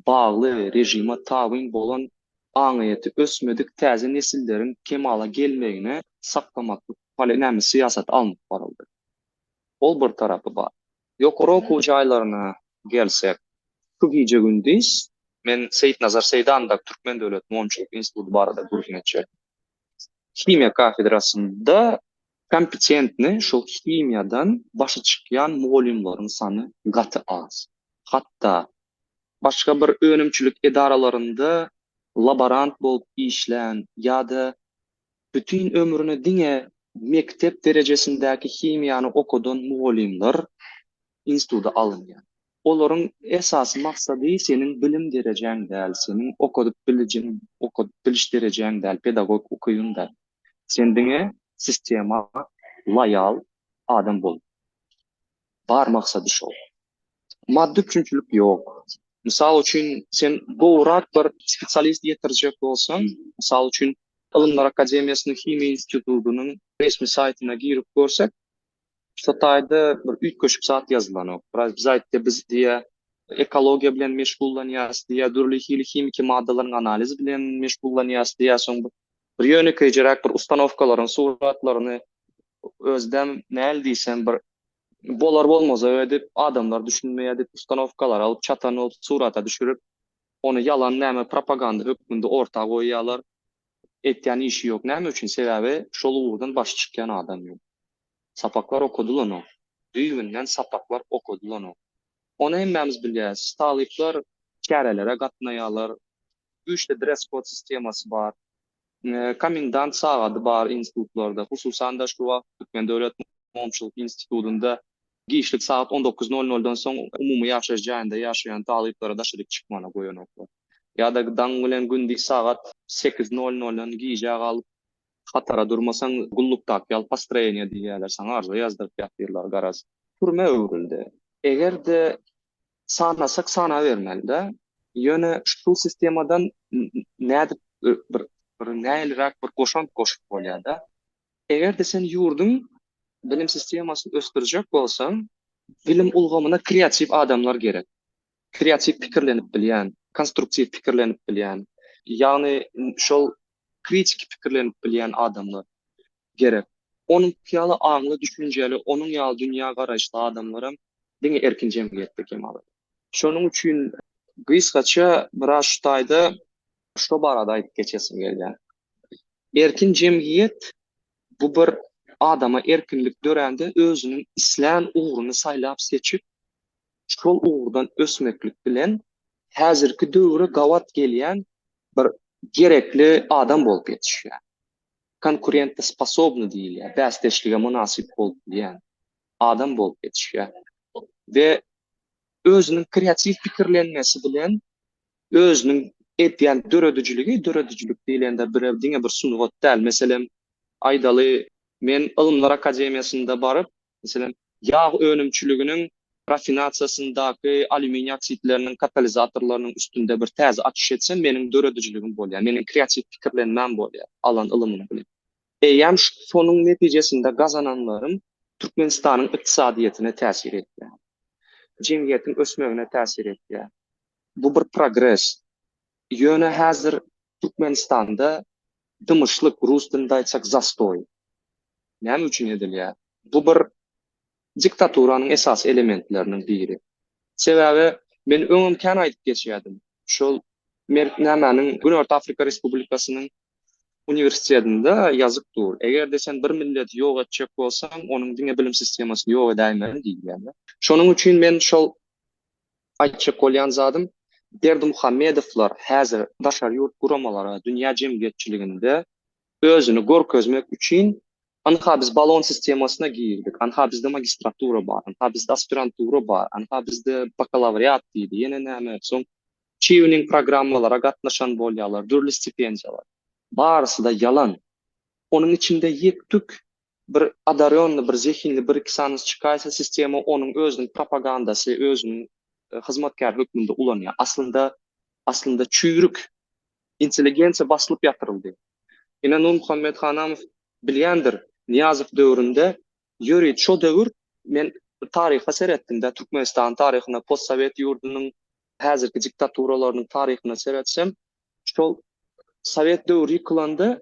bagly, režime tabyn bolan aňyýeti ösmedik täze nesilleriň kemala gelmegine saklamaklyk poli näme syýasat alnyp baryldy. Ol bir tarapy bar. Ýokary okuw jaýlaryna gelsek, şu gije-gündiz men Seýitnazar Seýdandag Türkmen döwlet monçulyk instituty barada gürrüň etjek. Himiýa kafedrasynda kompetentni şol himiýadan başy çykýan mugallymlaryň sany gaty az. Hatda başga bir önümçilik edaralarynda laborant bolup işlän ýa-da Bütin ömrüne diňe mekdep derejesindäki himiýany okadan mugallymlar instituta alynýar. Olaryň esasy maksady seniň bilim derejäň däl, seniň okadyp bilijiň, okadyp biliş derejäň däl, pedagogik ukybyň däl. Sen diňe sistema loýal adam bol. Bar maksady şol. maddy üpjünçilik ýok. Mysal üçin, sen gowrak bir spesialist ýetirjek bolsaň, mysal üçin, Ylymlar akademiýasynyň Himiýa institutynyň resmi saýtyna girip görsek, şu taýda bir üýtgeşik zat ýazylanok. Biraz biz aýtdy, biz diýýä, ekologiýa bilen meşgullanýarys diýýä, dürli hili himiki maddalaryň analizi bilen meşgullanýarys diýýä, soň bir ýönekeýjeräk bir ustanowkalaryň suratlaryny özem näl diýsem bir bolar-bolmazak edip, adamlar düşünmeýär diýip, ustanowkalary alyp, çatan bolup surata düşürip, ony ýalan näme propaganda hökmünde orta goýýarlar. Etýän işi ýok. Näme üçin? Sebäbi şol ugurdan başy çykýan adam ýok. Sapaklar okadylanok. Düýbünden sapaklar okadylanok. Ony hemmämiz bilýäris. Talyplar çärelere gatnaýarlar. Güýçli dress-kod sistemasy bar. Komendant sagady bar institutlarda, hususan-da, şu wagt Türkmen döwlet mugamçylyk institutynda giçlik sagat on dokuz nol noldan soň umumy ýaşaýyş jaýynda ýaşaýan talyplara daşary çyk çykmana goýanoklar. Ýa-da daň bilen gündiz sagat sekiz nol noldan gijä galyp hatara durmasaň gullukdaky ýaly postroýeniýe diýýärler saňa arza ýazdyryp ýatyrlar garaz. Türmä öwrüldi. Eger-de Sanasak sanabermeli-dä. Ýöne şu sistemadan nädip bir bir näliräk bir goşant goşup bolýar-da. Eger-de sen ýurduň bilim sistemasyny ösdürjek bolsaň, bilim ulgamyna kreatiw adamlar gerek. Kreatiw pikirlenip bilýän, konstruktiw pikirlenip bilýän, ýagny şol kritiki pikirlenip bilýän adamlar. gerek. Onuň ýaly aňly, düşünjeli, onuň ýaly dünýä garaýyşly adamlaram diňe erkin jemgyýetde kemala Şonuň üçin gysgaça biraz şu taýda şo barada aýdyp geçesim gelýär. Erkin jemgyýet bu bir adama erkinlik dörände özüniň islän ugruny saýlap seçip, şol ugurdan ösmeklik bilen häzirki döwre gabat gelýän bir gerekli adam bolup ýetişýär. konkurentosposobny diýilýär, bäsdeşlige mynasyp bolup bilýän adam bolup ýetişýär we özüniň kreatiw pikirlenmesi bilen özüniň edýän döredijiligi, döredijilik diýlende birew diňe bir sungat däl, meselem, aýdaly, men Ylymlar akademiýasynda baryp, meselem, ýag önümçiliginiň rafinasiýasyndaky alýuminiý oksidleriniň katalizatorlarynyň üstünde bir täze açyş etsem, meniň döredijiligim bolýar, meniň kreatiw pikirlenmäm bolýar, alan ylymym bilen. Eýýäm şonuň netijesinde gazananlarym Türkmenistanyň ykdysadyýetine täsir edýär, jemgyýetiň ösmegine täsir edýär. Bu bir progres. Ýöne häzir Türkmenistanda Dymyşlyk, rus dilinde aýtsak zastoý. Näme üçin edilýär? Bu bir diktaturanyň esasy elementleriniň biri. Sebäbi men öňem kän aýdyp geçýärdim. Şol Merk nämäniň Günorta Afrika Respublikasynyň uniwersitetinde ýazyk dur. Eger-de sen bir milleti ýok etjek bolsaň, onuň diňe bilim sistemasyny ýok edäýmeli diýilýär. Şonuň üçin men şol Aýtjak bolýan zadym, Berdimuhamedowlar häzir daşary ýurt guramalara, dünýä jemgyýetçiliginde özüni görkezmek üçin, Anha biz balon sistemasyna girdik, anha bizde magistratura bar, anha bizde aspirantura bar, anha bizde bakalawriat diýdi, ýene näme, soň çýuning programmalara gatnaşan bolýarlar, dürli stipendiýalar. Barysy-da ýalan. Onuň içinde ýek-tük Bir odarýonnyý, bir zehinli bir-iki sany çykaýsa, sistema onuň özüniň propagandasy, özüniň hyzmatkäri hökmünde ulanýar. Aslynda, aslynda çüýrük intelligensiýa basylyp ýatyryldy. Ine, Nurmuhammet Hanamow bilýändir, Nyýazow döwründe ýörüt şo döwür, men bir taryha seretdim-de, Türkmenistanyň taryhyna, postsowet ýurdunyň häzirki diktaturalarynyň taryhyna seretsem, şol sowet döwri ýykylanda,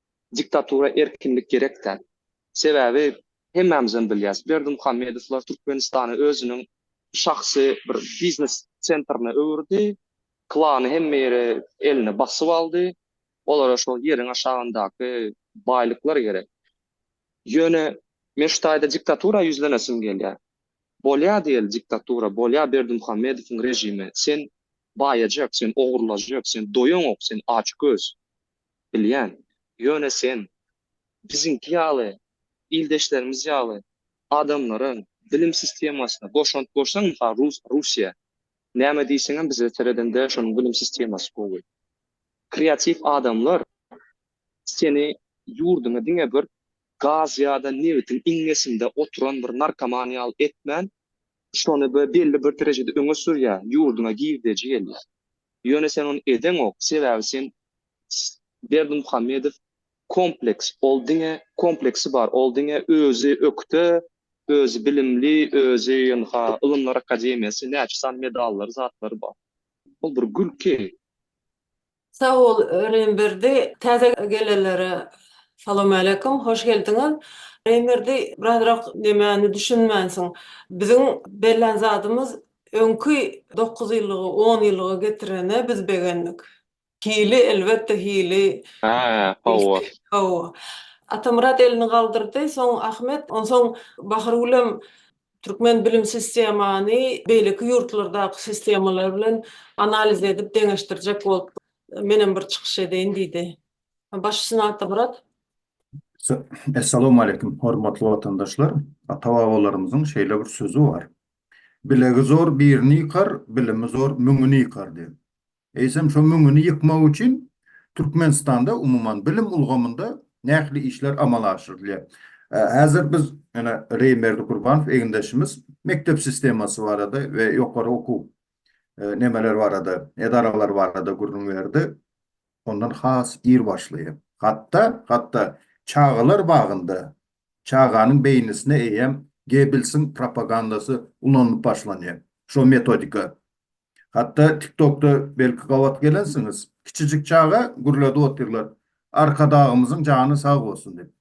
Diktatura erkinlik gerek däl. Sebäbi hemmämizem bilýäs, Berdimuhamedowlar Türkmenistany özüniň şahsy bir biznes sentrine öwürdi, klany hemme ýeri eline basyp aldy, olara şol ýeriň aşagyndaky baýlyklar gerek. Ýöne men şu taýda diktatura ýüzlenesim gelýär. Bolýa diýeli diktatura, bolýa Berdimuhamedowyň režimi, sen baýajak, sen ogurlajak, sen doýaňok, sen açgöz. Bilýän. Ýöne sen biziňki ýaly, ildeşlerimiz ýaly adamlara bilim sistemasyna goşant bolsaň, mysal, rus, Russiýa, näme diýseňem bize seredende şonuň bilim sistemasy gowy. Kreatiw adamlar seni ýurduňa diňe bir gaz ýa-da nebitiň iňňesinde oturan bir narkoman ýaly etmän, şony bir belli bir derejede öňe sürýär, ýurduňa girdeji gelýär. Ýöne sen ony edeňok, sebäbi sen Berdimuhamedow kompleks, ol diňe kompleksi bar, ol diňe özi ökde, özi bilimli, özi ynha ylymlar akademiýasy, näçe sany medallary, zatlary bar. Ol bir gülki. Sag bol Reýmberdi, täze gelenlere Salowmaleýkum, hoş geldiňiz. Reýmberdi, birazrak nemäni düşünmänsiň? Biziň bellän zadymyz Öňki dokuz ýyllygy on ýyllyga getirene biz begendik. Hili elbetde hili. Hä, hawa. Hawa. Atamyrat elini galdyrdy, soň Ahmet, onsoň Bahargülem türkmen bilim sistemany beýleki ýurtlardaky sistemalar bilen analiz edip deňeşdirjek bolup menem bir çykyş edeýin diýdi. Baş üstüne Atamyrat. Essalawmaleýkim hormatly watandaşlar. Ata-babalarymyzyň şeýle bir sözi bar. Bilegi zor birini ýykar, bilimi zor müňüni ýykar diýip. Eýsem, şo müňüni ýykmak üçin Türkmenistanda, umuman, bilim ulgamynda nähili işler amala aşyrylýar? Häzir biz, ýöne Reý Merdikurbanow egindeşimiz mekdep sistemasy barada we ýokary okuw nemeleri barada, edaralary barada gürrüň berdi. Ondan has ir başlaýyn. Hatda, hatda çagalar bagynda Çaganyň beýnisine eýýäm Gebbelsiň propagandasy ulanylyp başlanýar. Şo metodika. Hatda TikTokda belki gabat gelensiňiz, kiçijik çaga gürledip otyrlar, Arkadagymyzyň jany sag bolsun diýip.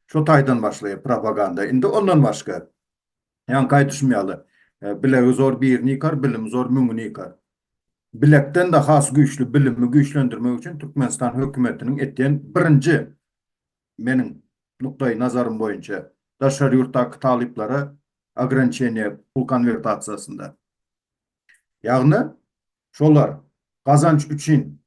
Şo taýdan başlaýar propaganda. Indi ondan başga, ýaňky aýdyşym ýaly, Bilegi zor birini ýykar, bilimi zor müňüni ýykar. Bilekden-de has güýçli bilimi güýçlendirmek üçin Türkmenistan hökümetiniň etýän birinji, meniň nukdaý nazarym boýunça, daşary ýurtdaky talyplara ograniçeniýe pul konwertasiýasynda. Ýagny, şolar gazanç üçin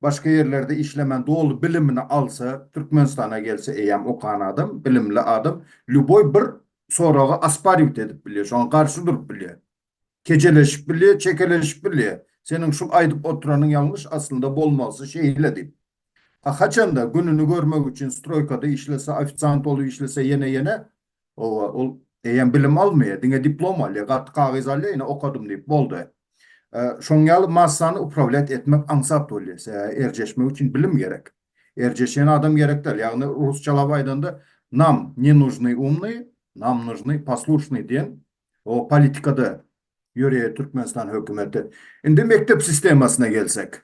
Başga ýerlerde işlemän doly bilimini alsa Türkmenistana gelse eýýam okan adam bilimli adam lýuboý bir soragy aspariwt edip bilýär şoňa garşy durup bilýär kejeleşip bilýär çekeleşip bilýär seniň şul aýdyp oturanyň ýalňyş aslynda bolmalysy şeýle diýip a haçanda gününi görmek üçin stroýkada işlese ofisant bolup işlese ýene ýene Oba ol eýýäm bilim almaýar, diňe diplom alýar, gaty kagyz alýar, ine okadym diýip boldy. Şoň ýaly massany uprawlýat etmek aňsat bolýar, sebäbi erjeşmek üçin bilim gerek. Erjeşýän adam gerek däl, ýagny rusçalap aýdanda nam ne nužny umny, nam nužny poslušny diýen o politikada ýöreýär Türkmenistan hökümeti. Indi mekdep sistemasyna gelsek.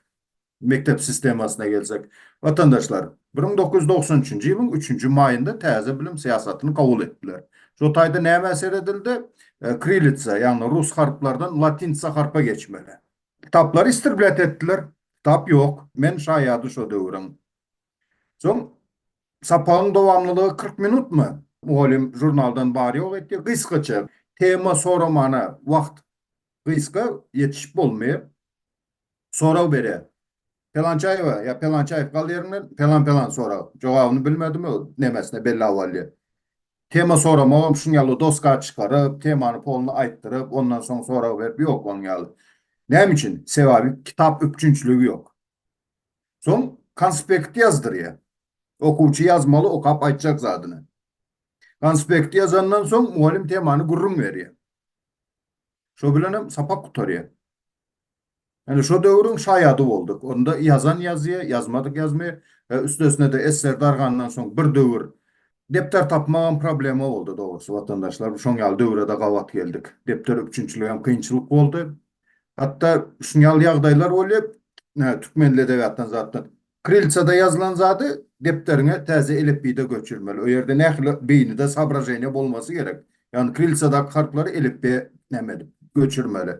Mekdep sistemasyna gelsek, watandaşlar bir müň dokuz ýüz dogsan üçünji ýylyň üçünji maýynda täze bilim syýasatyny kabul etdiler. Şo taýda nämä seredildi? Kirilitsa, ýagny rus harplardan latinsa harpa geçmeli. Kitaplary istrblýat etdiler. Kitap ýok. Men şaýady şo döwrüň. Soň sapagyň dowamlylygy kyrk minutmy? Mugallym žurnaldan bar-ýok etdi. Gysgaça, tema soramana wagt gysga, ýetişip bolmaýar. Sorag berýär. Pelançaýewa ýa Pelançaýew gal ýeriňde, pelan pelan sorag. Jogabyny bilmedimi, nemesine belli awalýa. Tema soramagam şuň ýaly doska çykaryp, temany poluny aýtdyryp, ondan soň sorag berip ýok onuň ýaly. Näme üçin? Sebabi kitap üpjünçiligi ýok. Soň konspekti ýazdyrýa. Okuwçy ýazmaly okap aýtjak zadyny. Konspekti ýazandan soň mugallym temany gürrüň berýä. Şo bilenem sapak gutarýa. Ine şo döwrüň şaýady bolduk. Onda ýazan ýazýy, ýazmadyk ýazmy we üstesine-de esser dargandan soň bir döwür depder tapmagam problema boldy dogrusy watandaşlar. Şoň ýaly döwre-de gabat geldik. Depder üpjünçiligem kynçylyk boldy. Hatda şuň ýaly ýagdaýlar bolýar, türkmen edebiýatdan zatdan Krilitsada ýazylan zady depderiňe täze elipbiýde göçürmeli. O ýerde nähili beýnide sobraženiýa bolmasy gerek. Ýagny krilitsadaky harplary elipbiýe näme edip, göçürmeli.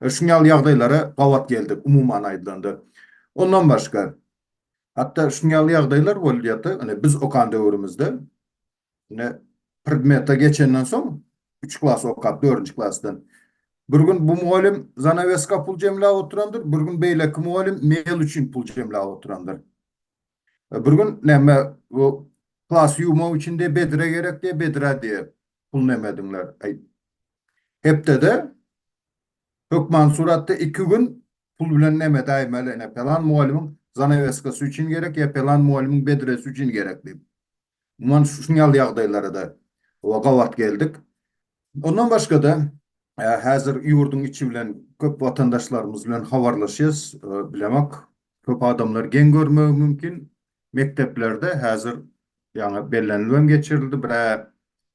Şuň ýaly ýagdaýlara gabat geldik, umuman aýdylanda. Ondan başga, hatda şuň ýaly ýagdaýlar bolýardy, ine, biz okan döwrümizde Ine, predmete geçenden soň, üç klas okap, dördünji klasdan, bir gün bu mugallym zanaweska pul jemläp oturandyr, bir gün beýleki mugallym mebel üçin pul jemläp oturandyr. E, bir gün näme, bu klasy ýuwmak üçin diýip bedre gerek diýip, bedrä diýip pul nämediňler. Aý, hepdede hökman suratda iki gün pul bilen näme däýmeli, ine, pelan mugallymyň zanaweskasy üçin gerek ýa pelan mugallymyň bedresi üçin gerek diýip. Umuman, şuň ýaly ýagdaýlara-da gabat geldik. Ondan başga-da, häzir ýurduň içi bilen köp watandaşlarymyz bilen habarlaşýas. Bilemok, köp adamlar geň görmegi mümkin, mekdeplerde häzir ýaňy bellenilip hem geçirildi, bir-ä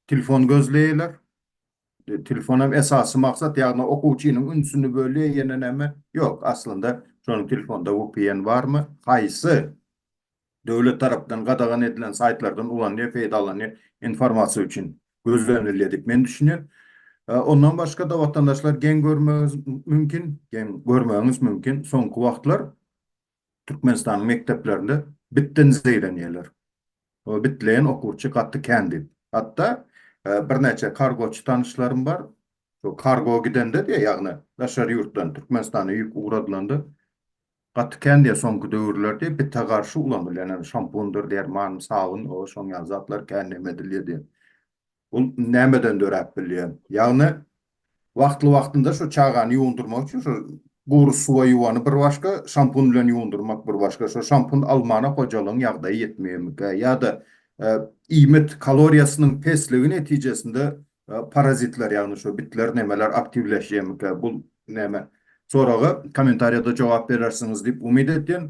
telefon gözleýärler. Telefon hem esasy maksat, ýagny okuwçynyň ünsüni bölýär, ýene näme? Ýok, aslynda şonuň telefonda vpn barmy? Haýsy? Döwlet tarapdan gadagan edilen saýtlardan ulanýar, peýdalanýar informasiýa üçin gözlenilýär diýip men düşünýän. Ondan başga-da watandaşlar geň görmegiňiz mümkin, geň görmegiňiz mümkin, soňky wagtlar Türkmenistanyň mekdeplerinde bitden zeýrenýärler. O bitleýän okuwçy gaty kän diýip. Hatda birnäçe kargoçy tanyşlarym bar. Şo kargo gidende-de, ýagny daşary ýurtdan Türkmenistana ýük ugradylanda, Gaty kän diýer soňky döwürlerde bite garşy ulanylýan ýaly şampundyr derman sabyn o şoň ýaly zatlar kän näme edilýär diýen. Bul nämeden döräp bilýär? Ýagny wagtly wagtynda şu çagany ýuwundyrmak üçin şu gury suwa ýuwany bir başga şampun bilen ýuwundyrmak bir başga şo şampun almana hojalygyň ýagdaýy ýetmeýänmikä ýa-da iýmit kaloriýasynyň pesligi netijesinde Parazitler ýagny şu bitler nemeler aktiwleşýemika bul näme soraga komentariýada jogap berersiňiz diýip umyt etýän.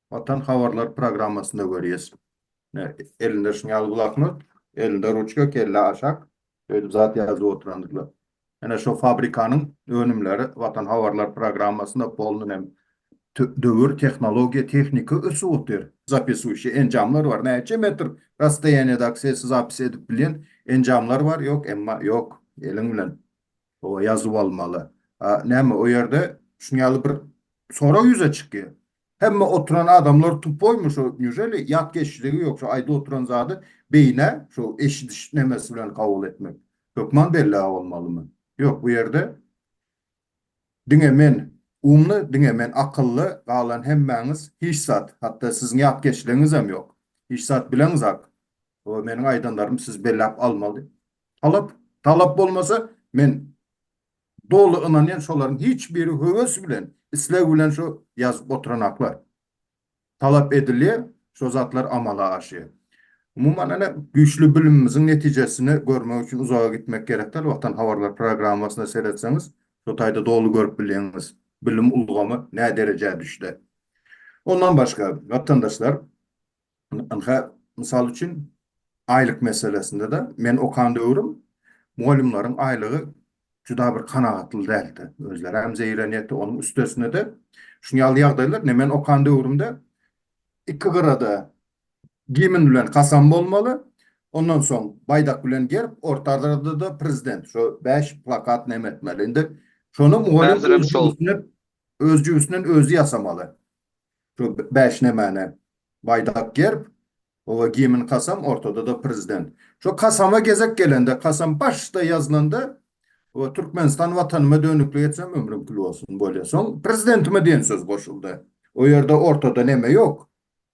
Watan habarlar programmasyna görýäs. Elinde şuň ýaly bloknot, elinde ruçka, kelle aşak, şeýdip zat ýazyp oturandyrlar. Ine, şo fabrikanyň önümleri Watan habarlar programmasynda polny hem döwür, tehnologiýa, tehnika ösüp otyr. Zapisuýşi enjamlar bar. Näçe metr rastoýaniýada sesi zapis edip bilýän enjamlar bar, ýok, emma ýok, eliň bilen. Oba ýazup almaly. A näme o ýerde şuny ýaly bir sorag ýüze çykýa. Hemme oturan adamlar tupoýmy şo nýujeli ýat geçjigi ýok şo aýda oturan zady beýnä şo eşidiş nemesi bilen kabul etmek hökman bellä bolmalymy. Ýok bu ýerde diňe men umly diňe men akylly galan hemmäňiz hiç zat hatda siziň ýat geçligiňizem ýok hiç zat bileňzak oba meniň aýdanlarym siz belläp almaly Talap, talap bolmasa, men doly ynanýan şolaryň hiç biri höwes bilen, isleg bilen şo ýazyp oturanaklar. Talap edilýär, şo zatlar amala aşýar. Umuman ene güýçli bilimimiziň netijesini görmek üçin uzaga gitmek gerek däl, Watan habarlar programmasyna seretseňiz şo taýda doly görüp bilýäňiz, bilim ulgamy näderejä düşde. Ondan başga, watandaşlar, Ynha, mysal üçin, aýlyk meselesinde-de, men okan döwrüm mugallymlaryň aýlygy juda bir kanagatly däldi. Özleri hem zeýrenýärdi. Onuň üstesine-de, şuny ýaly ýagdaýlar, ine, men okan döwrümde iki gyrada gimn bilen kasam bolmaly, ondan soň baýdak bilen gerb, ortarada-da prezident, şo bäş plakat neme etmeli. Indi şony mugallym öz jübüsinden özi ýasamaly. Şu bäş nämäni, baýdak, gerb, oba gimn, kasam, ortada-da prezident. Şu kasama gezek gelende, kasam başda ýazylanda, oba Türkmenistan Watanyma dönüklik etsem, ömrüň kül bolsun, bolýar. Soň prezidentime diýen söz goşuldy. O ýerde ortada näme ýok,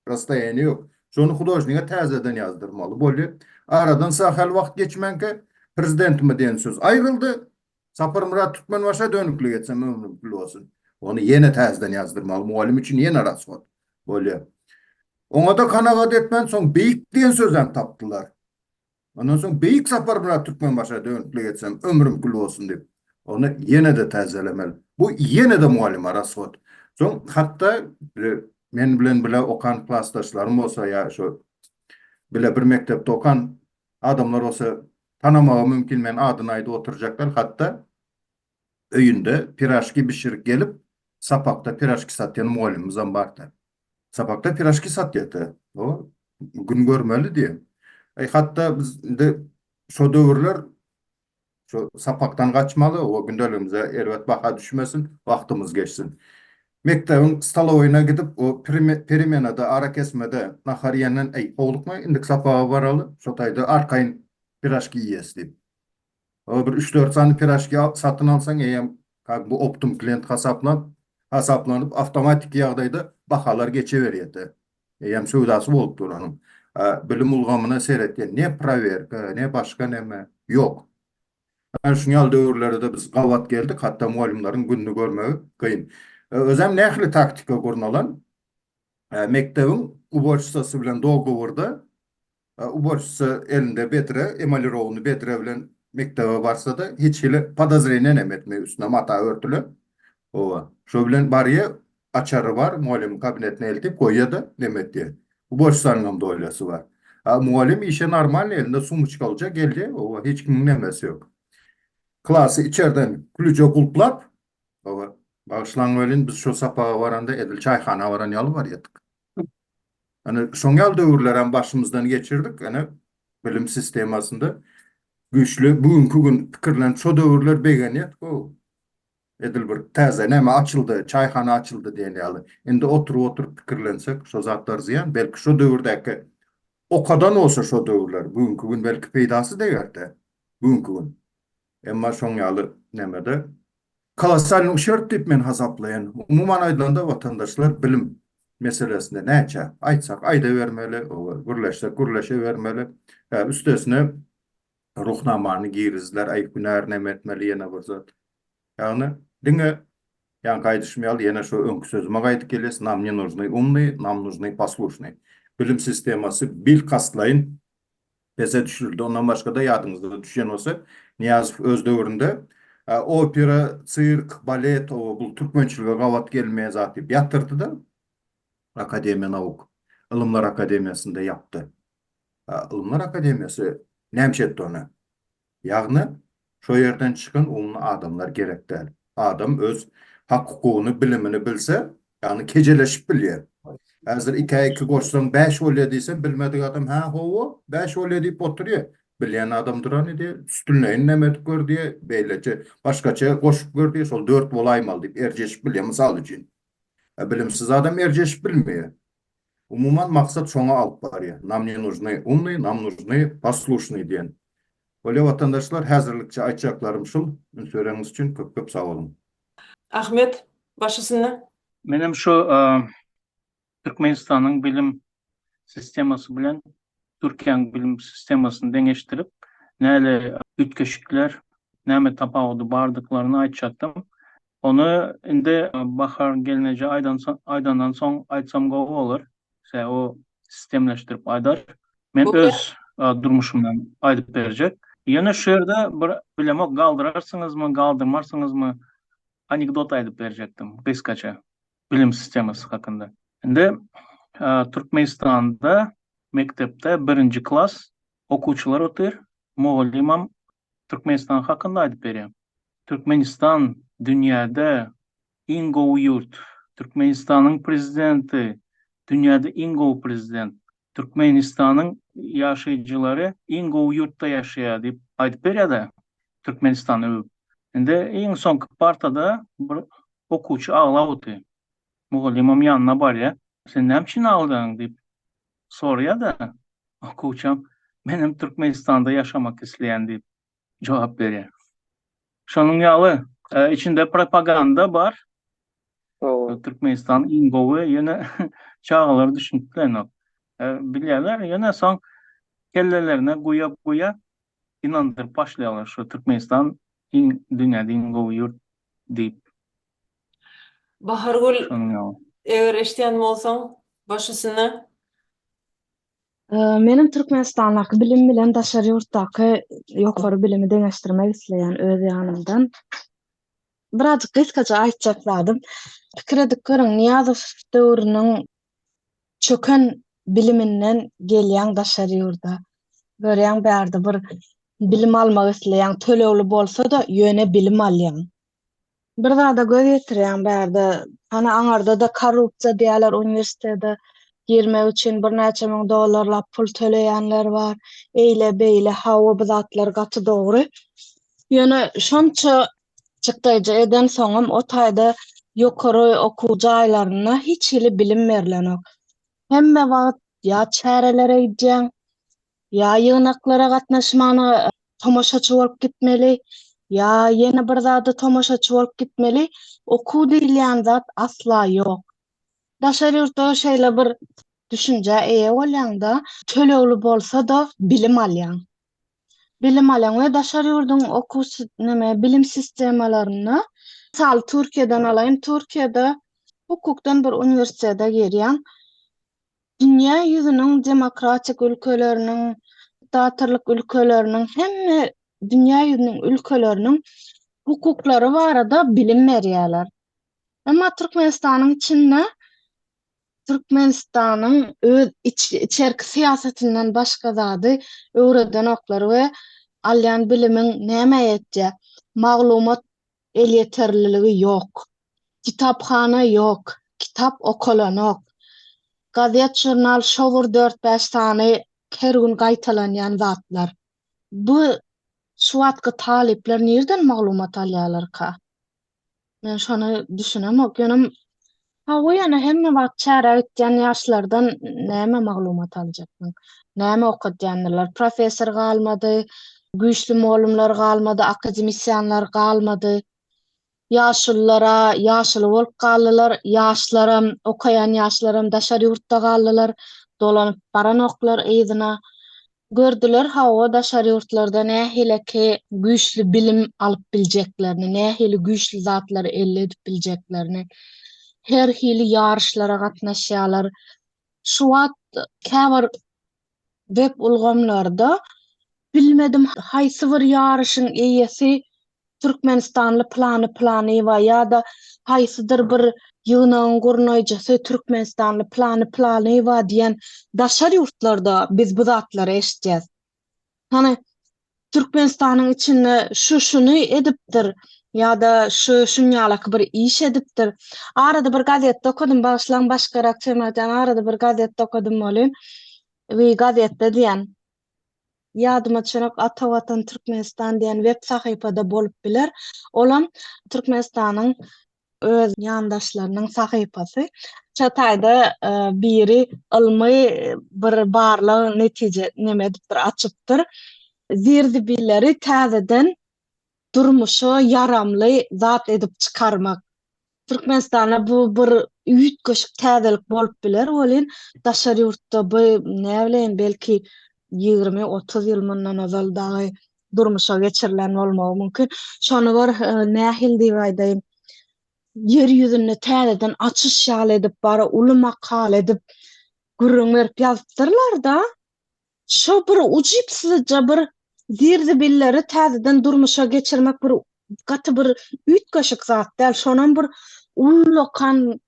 rastoýaniýe ýok. Şony hudožnige täzeden ýazdyrmaly boldy. Aradan sähel wagt geçmänkä, prezidentime diýen söz aýryldy, Saparmyrat Türkmenbaşa dönüklik etsem ömrüm kül bolsun. Ony ýene täzeden ýazdyrmaly mugallym üçin ýene raswod bolýar. Oňa-da kanagat etmän soň beýik diýen sözem tapdylar. Ondan soň beýik Saparmyrat Türkmenbaşa dönüklik etsem ömrüm kül bolsun diýip, ony ýene-de täzelemeli. Bu ýene-de mugallyma raswod. Soň hatda men bilen bile okan klasdaşlarym bolsa ýa şu bile bir mekdepde okan adamlar bolsa Tanamagy mümkin men adyny aýdyp oturjaklar hatda öýünde piraşki bişirip gelip sapakda piraşki satýan mugallymymyzam barda. Sapakda piraşki satýada o gün görmeli diýen. Aý hatda biz indi şo döwürler şo sapakdan gaçmaly o gündeligimize erbet baha düşmesin wagtymyz geçsin. Mekdebiň stolowyna gidip, o peremenada, arakesmede nahar iýenden, Äý, howlukma, indiki sapaga baraly, şo taýda arkaýyn piraşki iýeris diýip. O bir üç-dört sany piraşki satyn alsaň, eýýäm kag bu optum klient hasaplap, hasaplanyp, awtomatiki ýagdaýda bahalar geçeberýär-de. Eýýäm söwdasy bolup dur onuň. A bilim ulgamyna seretgen, ne prowerka, ne başga näme, ýok. Ana şuň ýaly döwürlere-de biz gabat geldik, hatda mugallymlaryň gününi görmegi kyn. Özem nähili taktika gurnalan? Mekdebiň uboçistasy bilen dogoworda, uboçisa elinde bedre, emalirowany bedre bilen mekdebe barsa-da, hiç hili podozreniýa-nem etmeý, üstüne mata örtülen, hawa, şo bilen barýa, Açary bar, mugallymyň kabinetine eltip goýýa-da, Memetje, bu bosanyňam dolyýasy bar. A mugallym işe normalny, elinde sumyçkalja geldi, oba, hiç kimiň nemesi ýok. Klasy içerden külüje gulplap, oba, bagyşlaň welin, biz şo sapaga baranda edil çaýhana baran ýaly barýardyk. Ene, şoň ýaly döwürlerem başymyzdan geçirdik, ene, bilim sistemasynda güýçli, bu günki gün pikirlenip, şo döwürler begenýärdik-ow. Edil bir täze näme açyldy, çaýhana açyldy diýen ýaly. Indi oturyp-oturyp pikirlensek, şo zatlar zyýan. Belki şo döwürdäki okadan bolsa şo döwürler, bu günki gün belki peýdasy deger-de, bu günki gün. Emma şoň ýaly nämede. Kolossal şert diýip men hasaplaýan. Umuman aýdylanda watandaşlar bilim meselesinde näçe aýtsak aýdabermeli, gürleşsek gürleşebermeli. Üstesine Ruhnamany girizdiler, aý hünär näme etmeli ýene bir zat. Ýagny diňe ýaňky aýdyşym ýaly ýene şu öňki sözüme gaýdyp gelýäs, nam ne nužnyý umnyý, nam nužnyý poslušnyý. Bilim sistemasy bilkastlaýyn pese düşürildi. Ondan başga-da ýadyňyzda düşýän bolsa Nyýazow öz döwründe opera, sirk, balet oba bul türkmençilige gabat gelmeýän zat diýip ýatyrdy-da, akademiýa nauk, ylymlar akademiýasyny-da ýapdy. Ylymlar akademiýasy näme etdi ony? Ýagny şo ýerden çykan umly adamlar gerek däl. Adam öz hak-hukugyny, bilimini bilse, ýagny kejeleşip bilýär. Häzir ikä iki goşsaň bäş bolýar diýseň, bilmedik adam hä ho-o, bäş bolýar diýip oturýar. Bilýän adam dur hany diýýär, üstünleýin näme edip gör diýýär, beýleçe, başgaça goşup gör diýýär, şol dört bolaýmaly diýip erjeşip bilýär, mysal üçin. Bilimsiz adam erjeşip bilmeýär. Umuman maksat şoňa alyp barýar, nam ne nužny umny, nam nužny poslušny diýen. Bolýa watandaşlar häzirlikçe aýtjaklarym şul, üns bereniňiz üçin köp köp sag boluň. Ahmet baş üstünde. Menem şu Türkmenistanyň bilim sistemasy bilen Türkiýäň bilim sistemasyny deňeşdirip, näle üýtgeşikler, näme tapawudy bardyklaryny aýtjakdym. Ony indi Bahar gelneje aýdandan soň aýtsam gowy bolar. Sebäbi o sistemleşdirip aýdar. Men öz durmuşymdan aýdyp berjek. Ýöne şu ýerde bir bilemok galdyrarsyňyzmy, galdyrmarsyňyzmy, anekdot aýdyp berjekdim gysgaça. bilim sistemasy hakynda. Indi Türkmenistanda mekdepde birinji klas okuwçylar otyr, mugallymam Türkmenistan hakynda aýdyp berýär. Türkmenistan dünýäde iň gowy ýurt, Türkmenistanyň prezidenti dünýäde iň gowy prezident, Türkmenistanyň ýaşaýjylary iň gowy ýurtda ýaşaýar diýip aýdyp berýärde Türkmenistany öwüp. Indi iň soňky partada bir okuwçy aglap otyr. Mugallymam ýanyna barýar. Sen näme üçin aglaýaň diýip soraýarda okuwçam menem Türkmenistanda ýaşamak isleýän diýip. jogap berýär. Şonuň ýaly, e, içinde propaganda bar. Hawa. Türkmenistan iň gowy, ýöne çagalar düşünip bilenok. E, bilýärler, ýöne soň kellelerine guýa-guýa inandyryp başlaýarlar şu Türkmenistan iň dünýäde iň gowy ýurt diýip. Bahargül, Şonuň ýaly. eger eşidýän bolsaň, baş üstüne. Meniň Türkmenistandaky bilim bilen daşary ýurtdaky ýokary bilimi deňeşdirmek isleýän öz ýanymdan. Birazjyk gysgaça aýtjak zadym, pikir edip görüň, Nyýazow döwrüniň çöken biliminden gelýäň daşary ýurda. Görýäň bärde bir bilim almak isleýäň, tölegli bolsa-da, ýöne bilim alýaň. Bir zada göz ýetirýän bärde hany aňarda-da korrupsiýa diýýärler uniwersitete girmek üçin birnäçe müň dollarlap pul töleýänler bar eýle beýle hawa bu zatlar gaty dogry ýöne şonça çykdaýja eden soňam o taýda ýokary okuw jaýlarynda hiç hili bilim berlenok hemme wagt ýa çärelere gidýäň Ýa ýygnaklara gatnaşmana tomaşaçy bolup gitmeli, ýa ýene bir zada tomaşaçy bolup gitmeli, okuw diýilýän zat asla ýok. Daşary ýurtda şeýle bir düşünjä eýe bolýaň-da, tölegli bolsa-da bilim alýaň. Bilim alýaň we daşary ýurduň okuw neme, bilim sistemalarynda, mysal Türkiýeden alaýyn, Türkiýede hukukdan bir uniwersitete girýäň, Dünýä ýüzüniň demokratik ülkeleriniň, diktatorlyk ülkeleriniň, hemme dünýä ýüzüniň ülkeleriniň hukuklary barada bilim berýärler. Emma Türkmenistanyň içinde Türkmenistanyň öz içerki syýasatyndan başga zady öwredenoklar we alýan bilimiň nämä ýetjek? Maglumat Elýeterliligi ýok. Kitaphana ýok, kitap okalanok. Gazet-žurnal şo bir dört-bäş sany her gün gaýtalanýan zatlar. Bu şu wagtky talyplar nirden maglumat alýarlarka? Men şony düşünemok. Ýöne Hawa ýöne hemme wagt çärä gitýän ýaşlardan näme maglumat aljakdyň? Näme okadýandylar? Professor galmady, güýçli molumlar galmady, akademisýanlar galmady. Ýaşulylara ýaşuly bolup galdylar, ýaşlaram, okaýan ýaşlaram daşary ýurtda galdylar, dolanyp baranoklar yzyna. Gördüler hawa daşary ýurtlarda nähileki güýçli bilim alyp biljeklerini, nähili güýçli zatlary elde edip biljeklerini. Her hili ýaryşlara gatnaşýarlar. Şu wagt käbir web ulgamlarda bilmedim haýsy bir ýaryşyň eýesi Türkmenistanly plany planyýewa ýa-da haýsydyr bir ýygnagyň gurnaýjysy türkmenistanly plany planyýewa diýen daşary ýurtlarda biz bu zatlary eşitýäs. Hany, Türkmenistanyň içinde şu şuny edipdir ýa-da şu şunýalaky bir iş edipdir. Arada bir gazetde okadym, bagyşlaň, başgarak Çemar jan, arada bir gazetde okadym welin, bir gazetde diýen. Ýadyma çyryk Ata Watan Türkmenistan diýen web sahypada bolup biler. Olam Türkmenistanyň öz ýandaşlarynyň sahypasy. Şo taýda biri ylmy bir barlag netije neme edipdir açypdyr. Zir-zibilleri täzeden durmuşa ýaramly zat edip çykarmak. Türkmenistanda bu bir üýtgeşik täzelik bolup biler welin, daşary ýurtda bu, näbileýin, belki, ýigrimi-otuz ýyl mundan ozal dagy durmuşa geçirilen bolmagy mümkin. Şony bir, nähili diýip aýdaýyn, ýer ýüzünde täzeden açyş ýaly edip, bara uly makala edip gürrüň berip ýazypdyrlar-da. Şo bir ujypsyzja bir zir-zibilleri täzeden durmuşa geçirmek bir gaty bir üýtgeşik zat däl. Şonam bir ullakan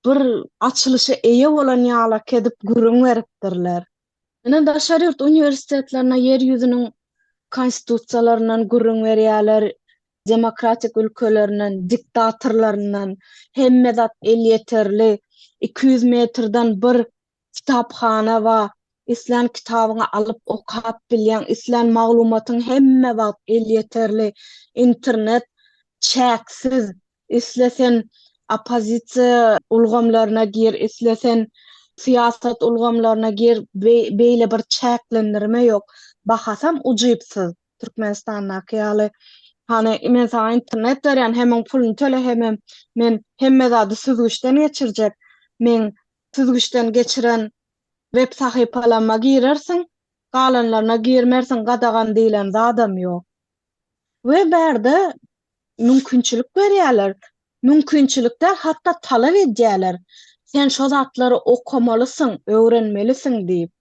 bir açylyşa eýe bolan ýalak edip gürrüň beripdirler. Ine, daşary ýurt uniwersitetlerine ýer ýüzüniň konstitusiýalaryndan gürrüň berýärler, demokratik ülkelerinden, diktatorlaryndan, hemme zat elýeterli, iki ýüz metrden bir Kitaphana bar. Islän kitabyňy alyp okap bilýäň. Islän maglumatyň hemme wagt elýeterli. Internet çäksiz. Isle sen oppozisiýa ulgamlaryna gir, isle sen syýasat ulgamlaryna gir, beýle bir çäklendirme ýok. Bahasam ujypsyz, Türkmenistandaky ýaly. Hany, men saňa internet berýän, hemem puluny töle, hemem men hemme zady süzgüçden geçirjek. Meň süzgüçden geçiren web sahypalama girersiň galanlaryna girmersiň gadagan diýlen zadam ýok. We bärde mümkinçilik berýäler, mümkinçilik däl hatda talap edýäler sen şo zatlary okamalysyň, öwrenmelisiň diýip.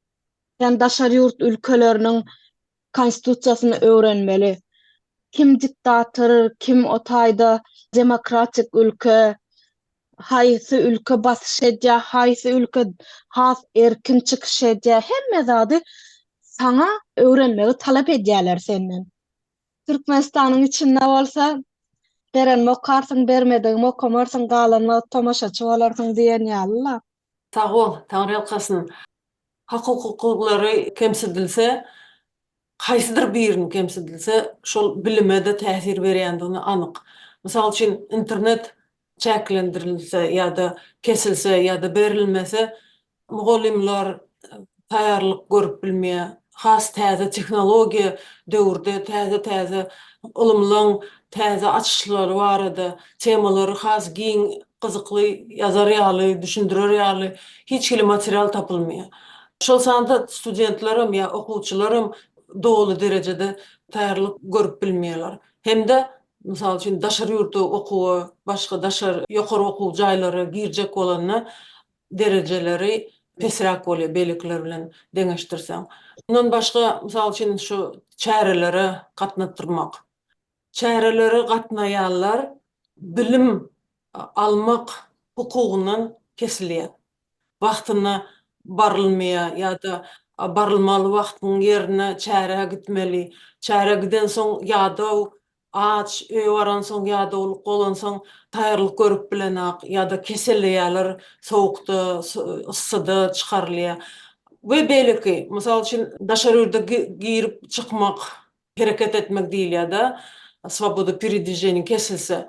Sen daşary ýurt ülkeleriniň Konstitusiýasyny öwrenmeli. Kim diktator, kim o taýda demokratik ülke, haýsy ülke basyş edýä, haýsy ülke has erkin çykyş edýä, hemme zady saňa öwrenmegi talap edýäler senden. Türkmenistanyň içinde bolsa, berenim okarsyň, bermedigim okamarsyň, galan wagt tomaşaçy bolarsyň diýen ýaly-la. Sagbol, taňryýalkasyn. Hak-hukuklary kemsidilse, haýsydyr birini kemsidilse, şol bilime-de täsir berýändigine anyk. Mysal üçin, internet çäklendirilse ýa-da kesilse ýa-da berilmese, mugallymlar, taýýarlyk görüp bilmeýär. Has täze tehnologiýa döwürde täze-täze ylymlaň täze açyşlary barada temalary has giň, gyzykly ýazar ýaly, düşündirer ýaly hiç hili material tapylmaýar. Şol sanda studentlerem ýa okuwçylaram doly derejede taýýarlyk görüp bilmeýärler. Hem-de, mysal üçin, daşary ýurtda okuwa, başga daşary ýokary okuw jaýlara girjek bolanda derejeleri pesräk bolýar beýlekiler bilen deňeşdirseň. Mundan başga, mysal üçin, şu çärelere gatnatdyrmak. Çärelere gatnaýanlar bilim almak hukugyndan kesilýär. Wagtyna barylmaýar ýa-da barylmaly wagtyň ýerine çärä gitmeli. Çärä gidensoň ýadaw Aç, öýe baransoň ýa dowluk bolansoň taýýarlyk görüp bilenok ýa-da keselleýärler sowukda, yssyda çykarylýar we beýleki. Mysal üçin, daşary ýurda girip çykmak, hereket etmek diýilýär-de, swoboda peredwijeniýa kesilse.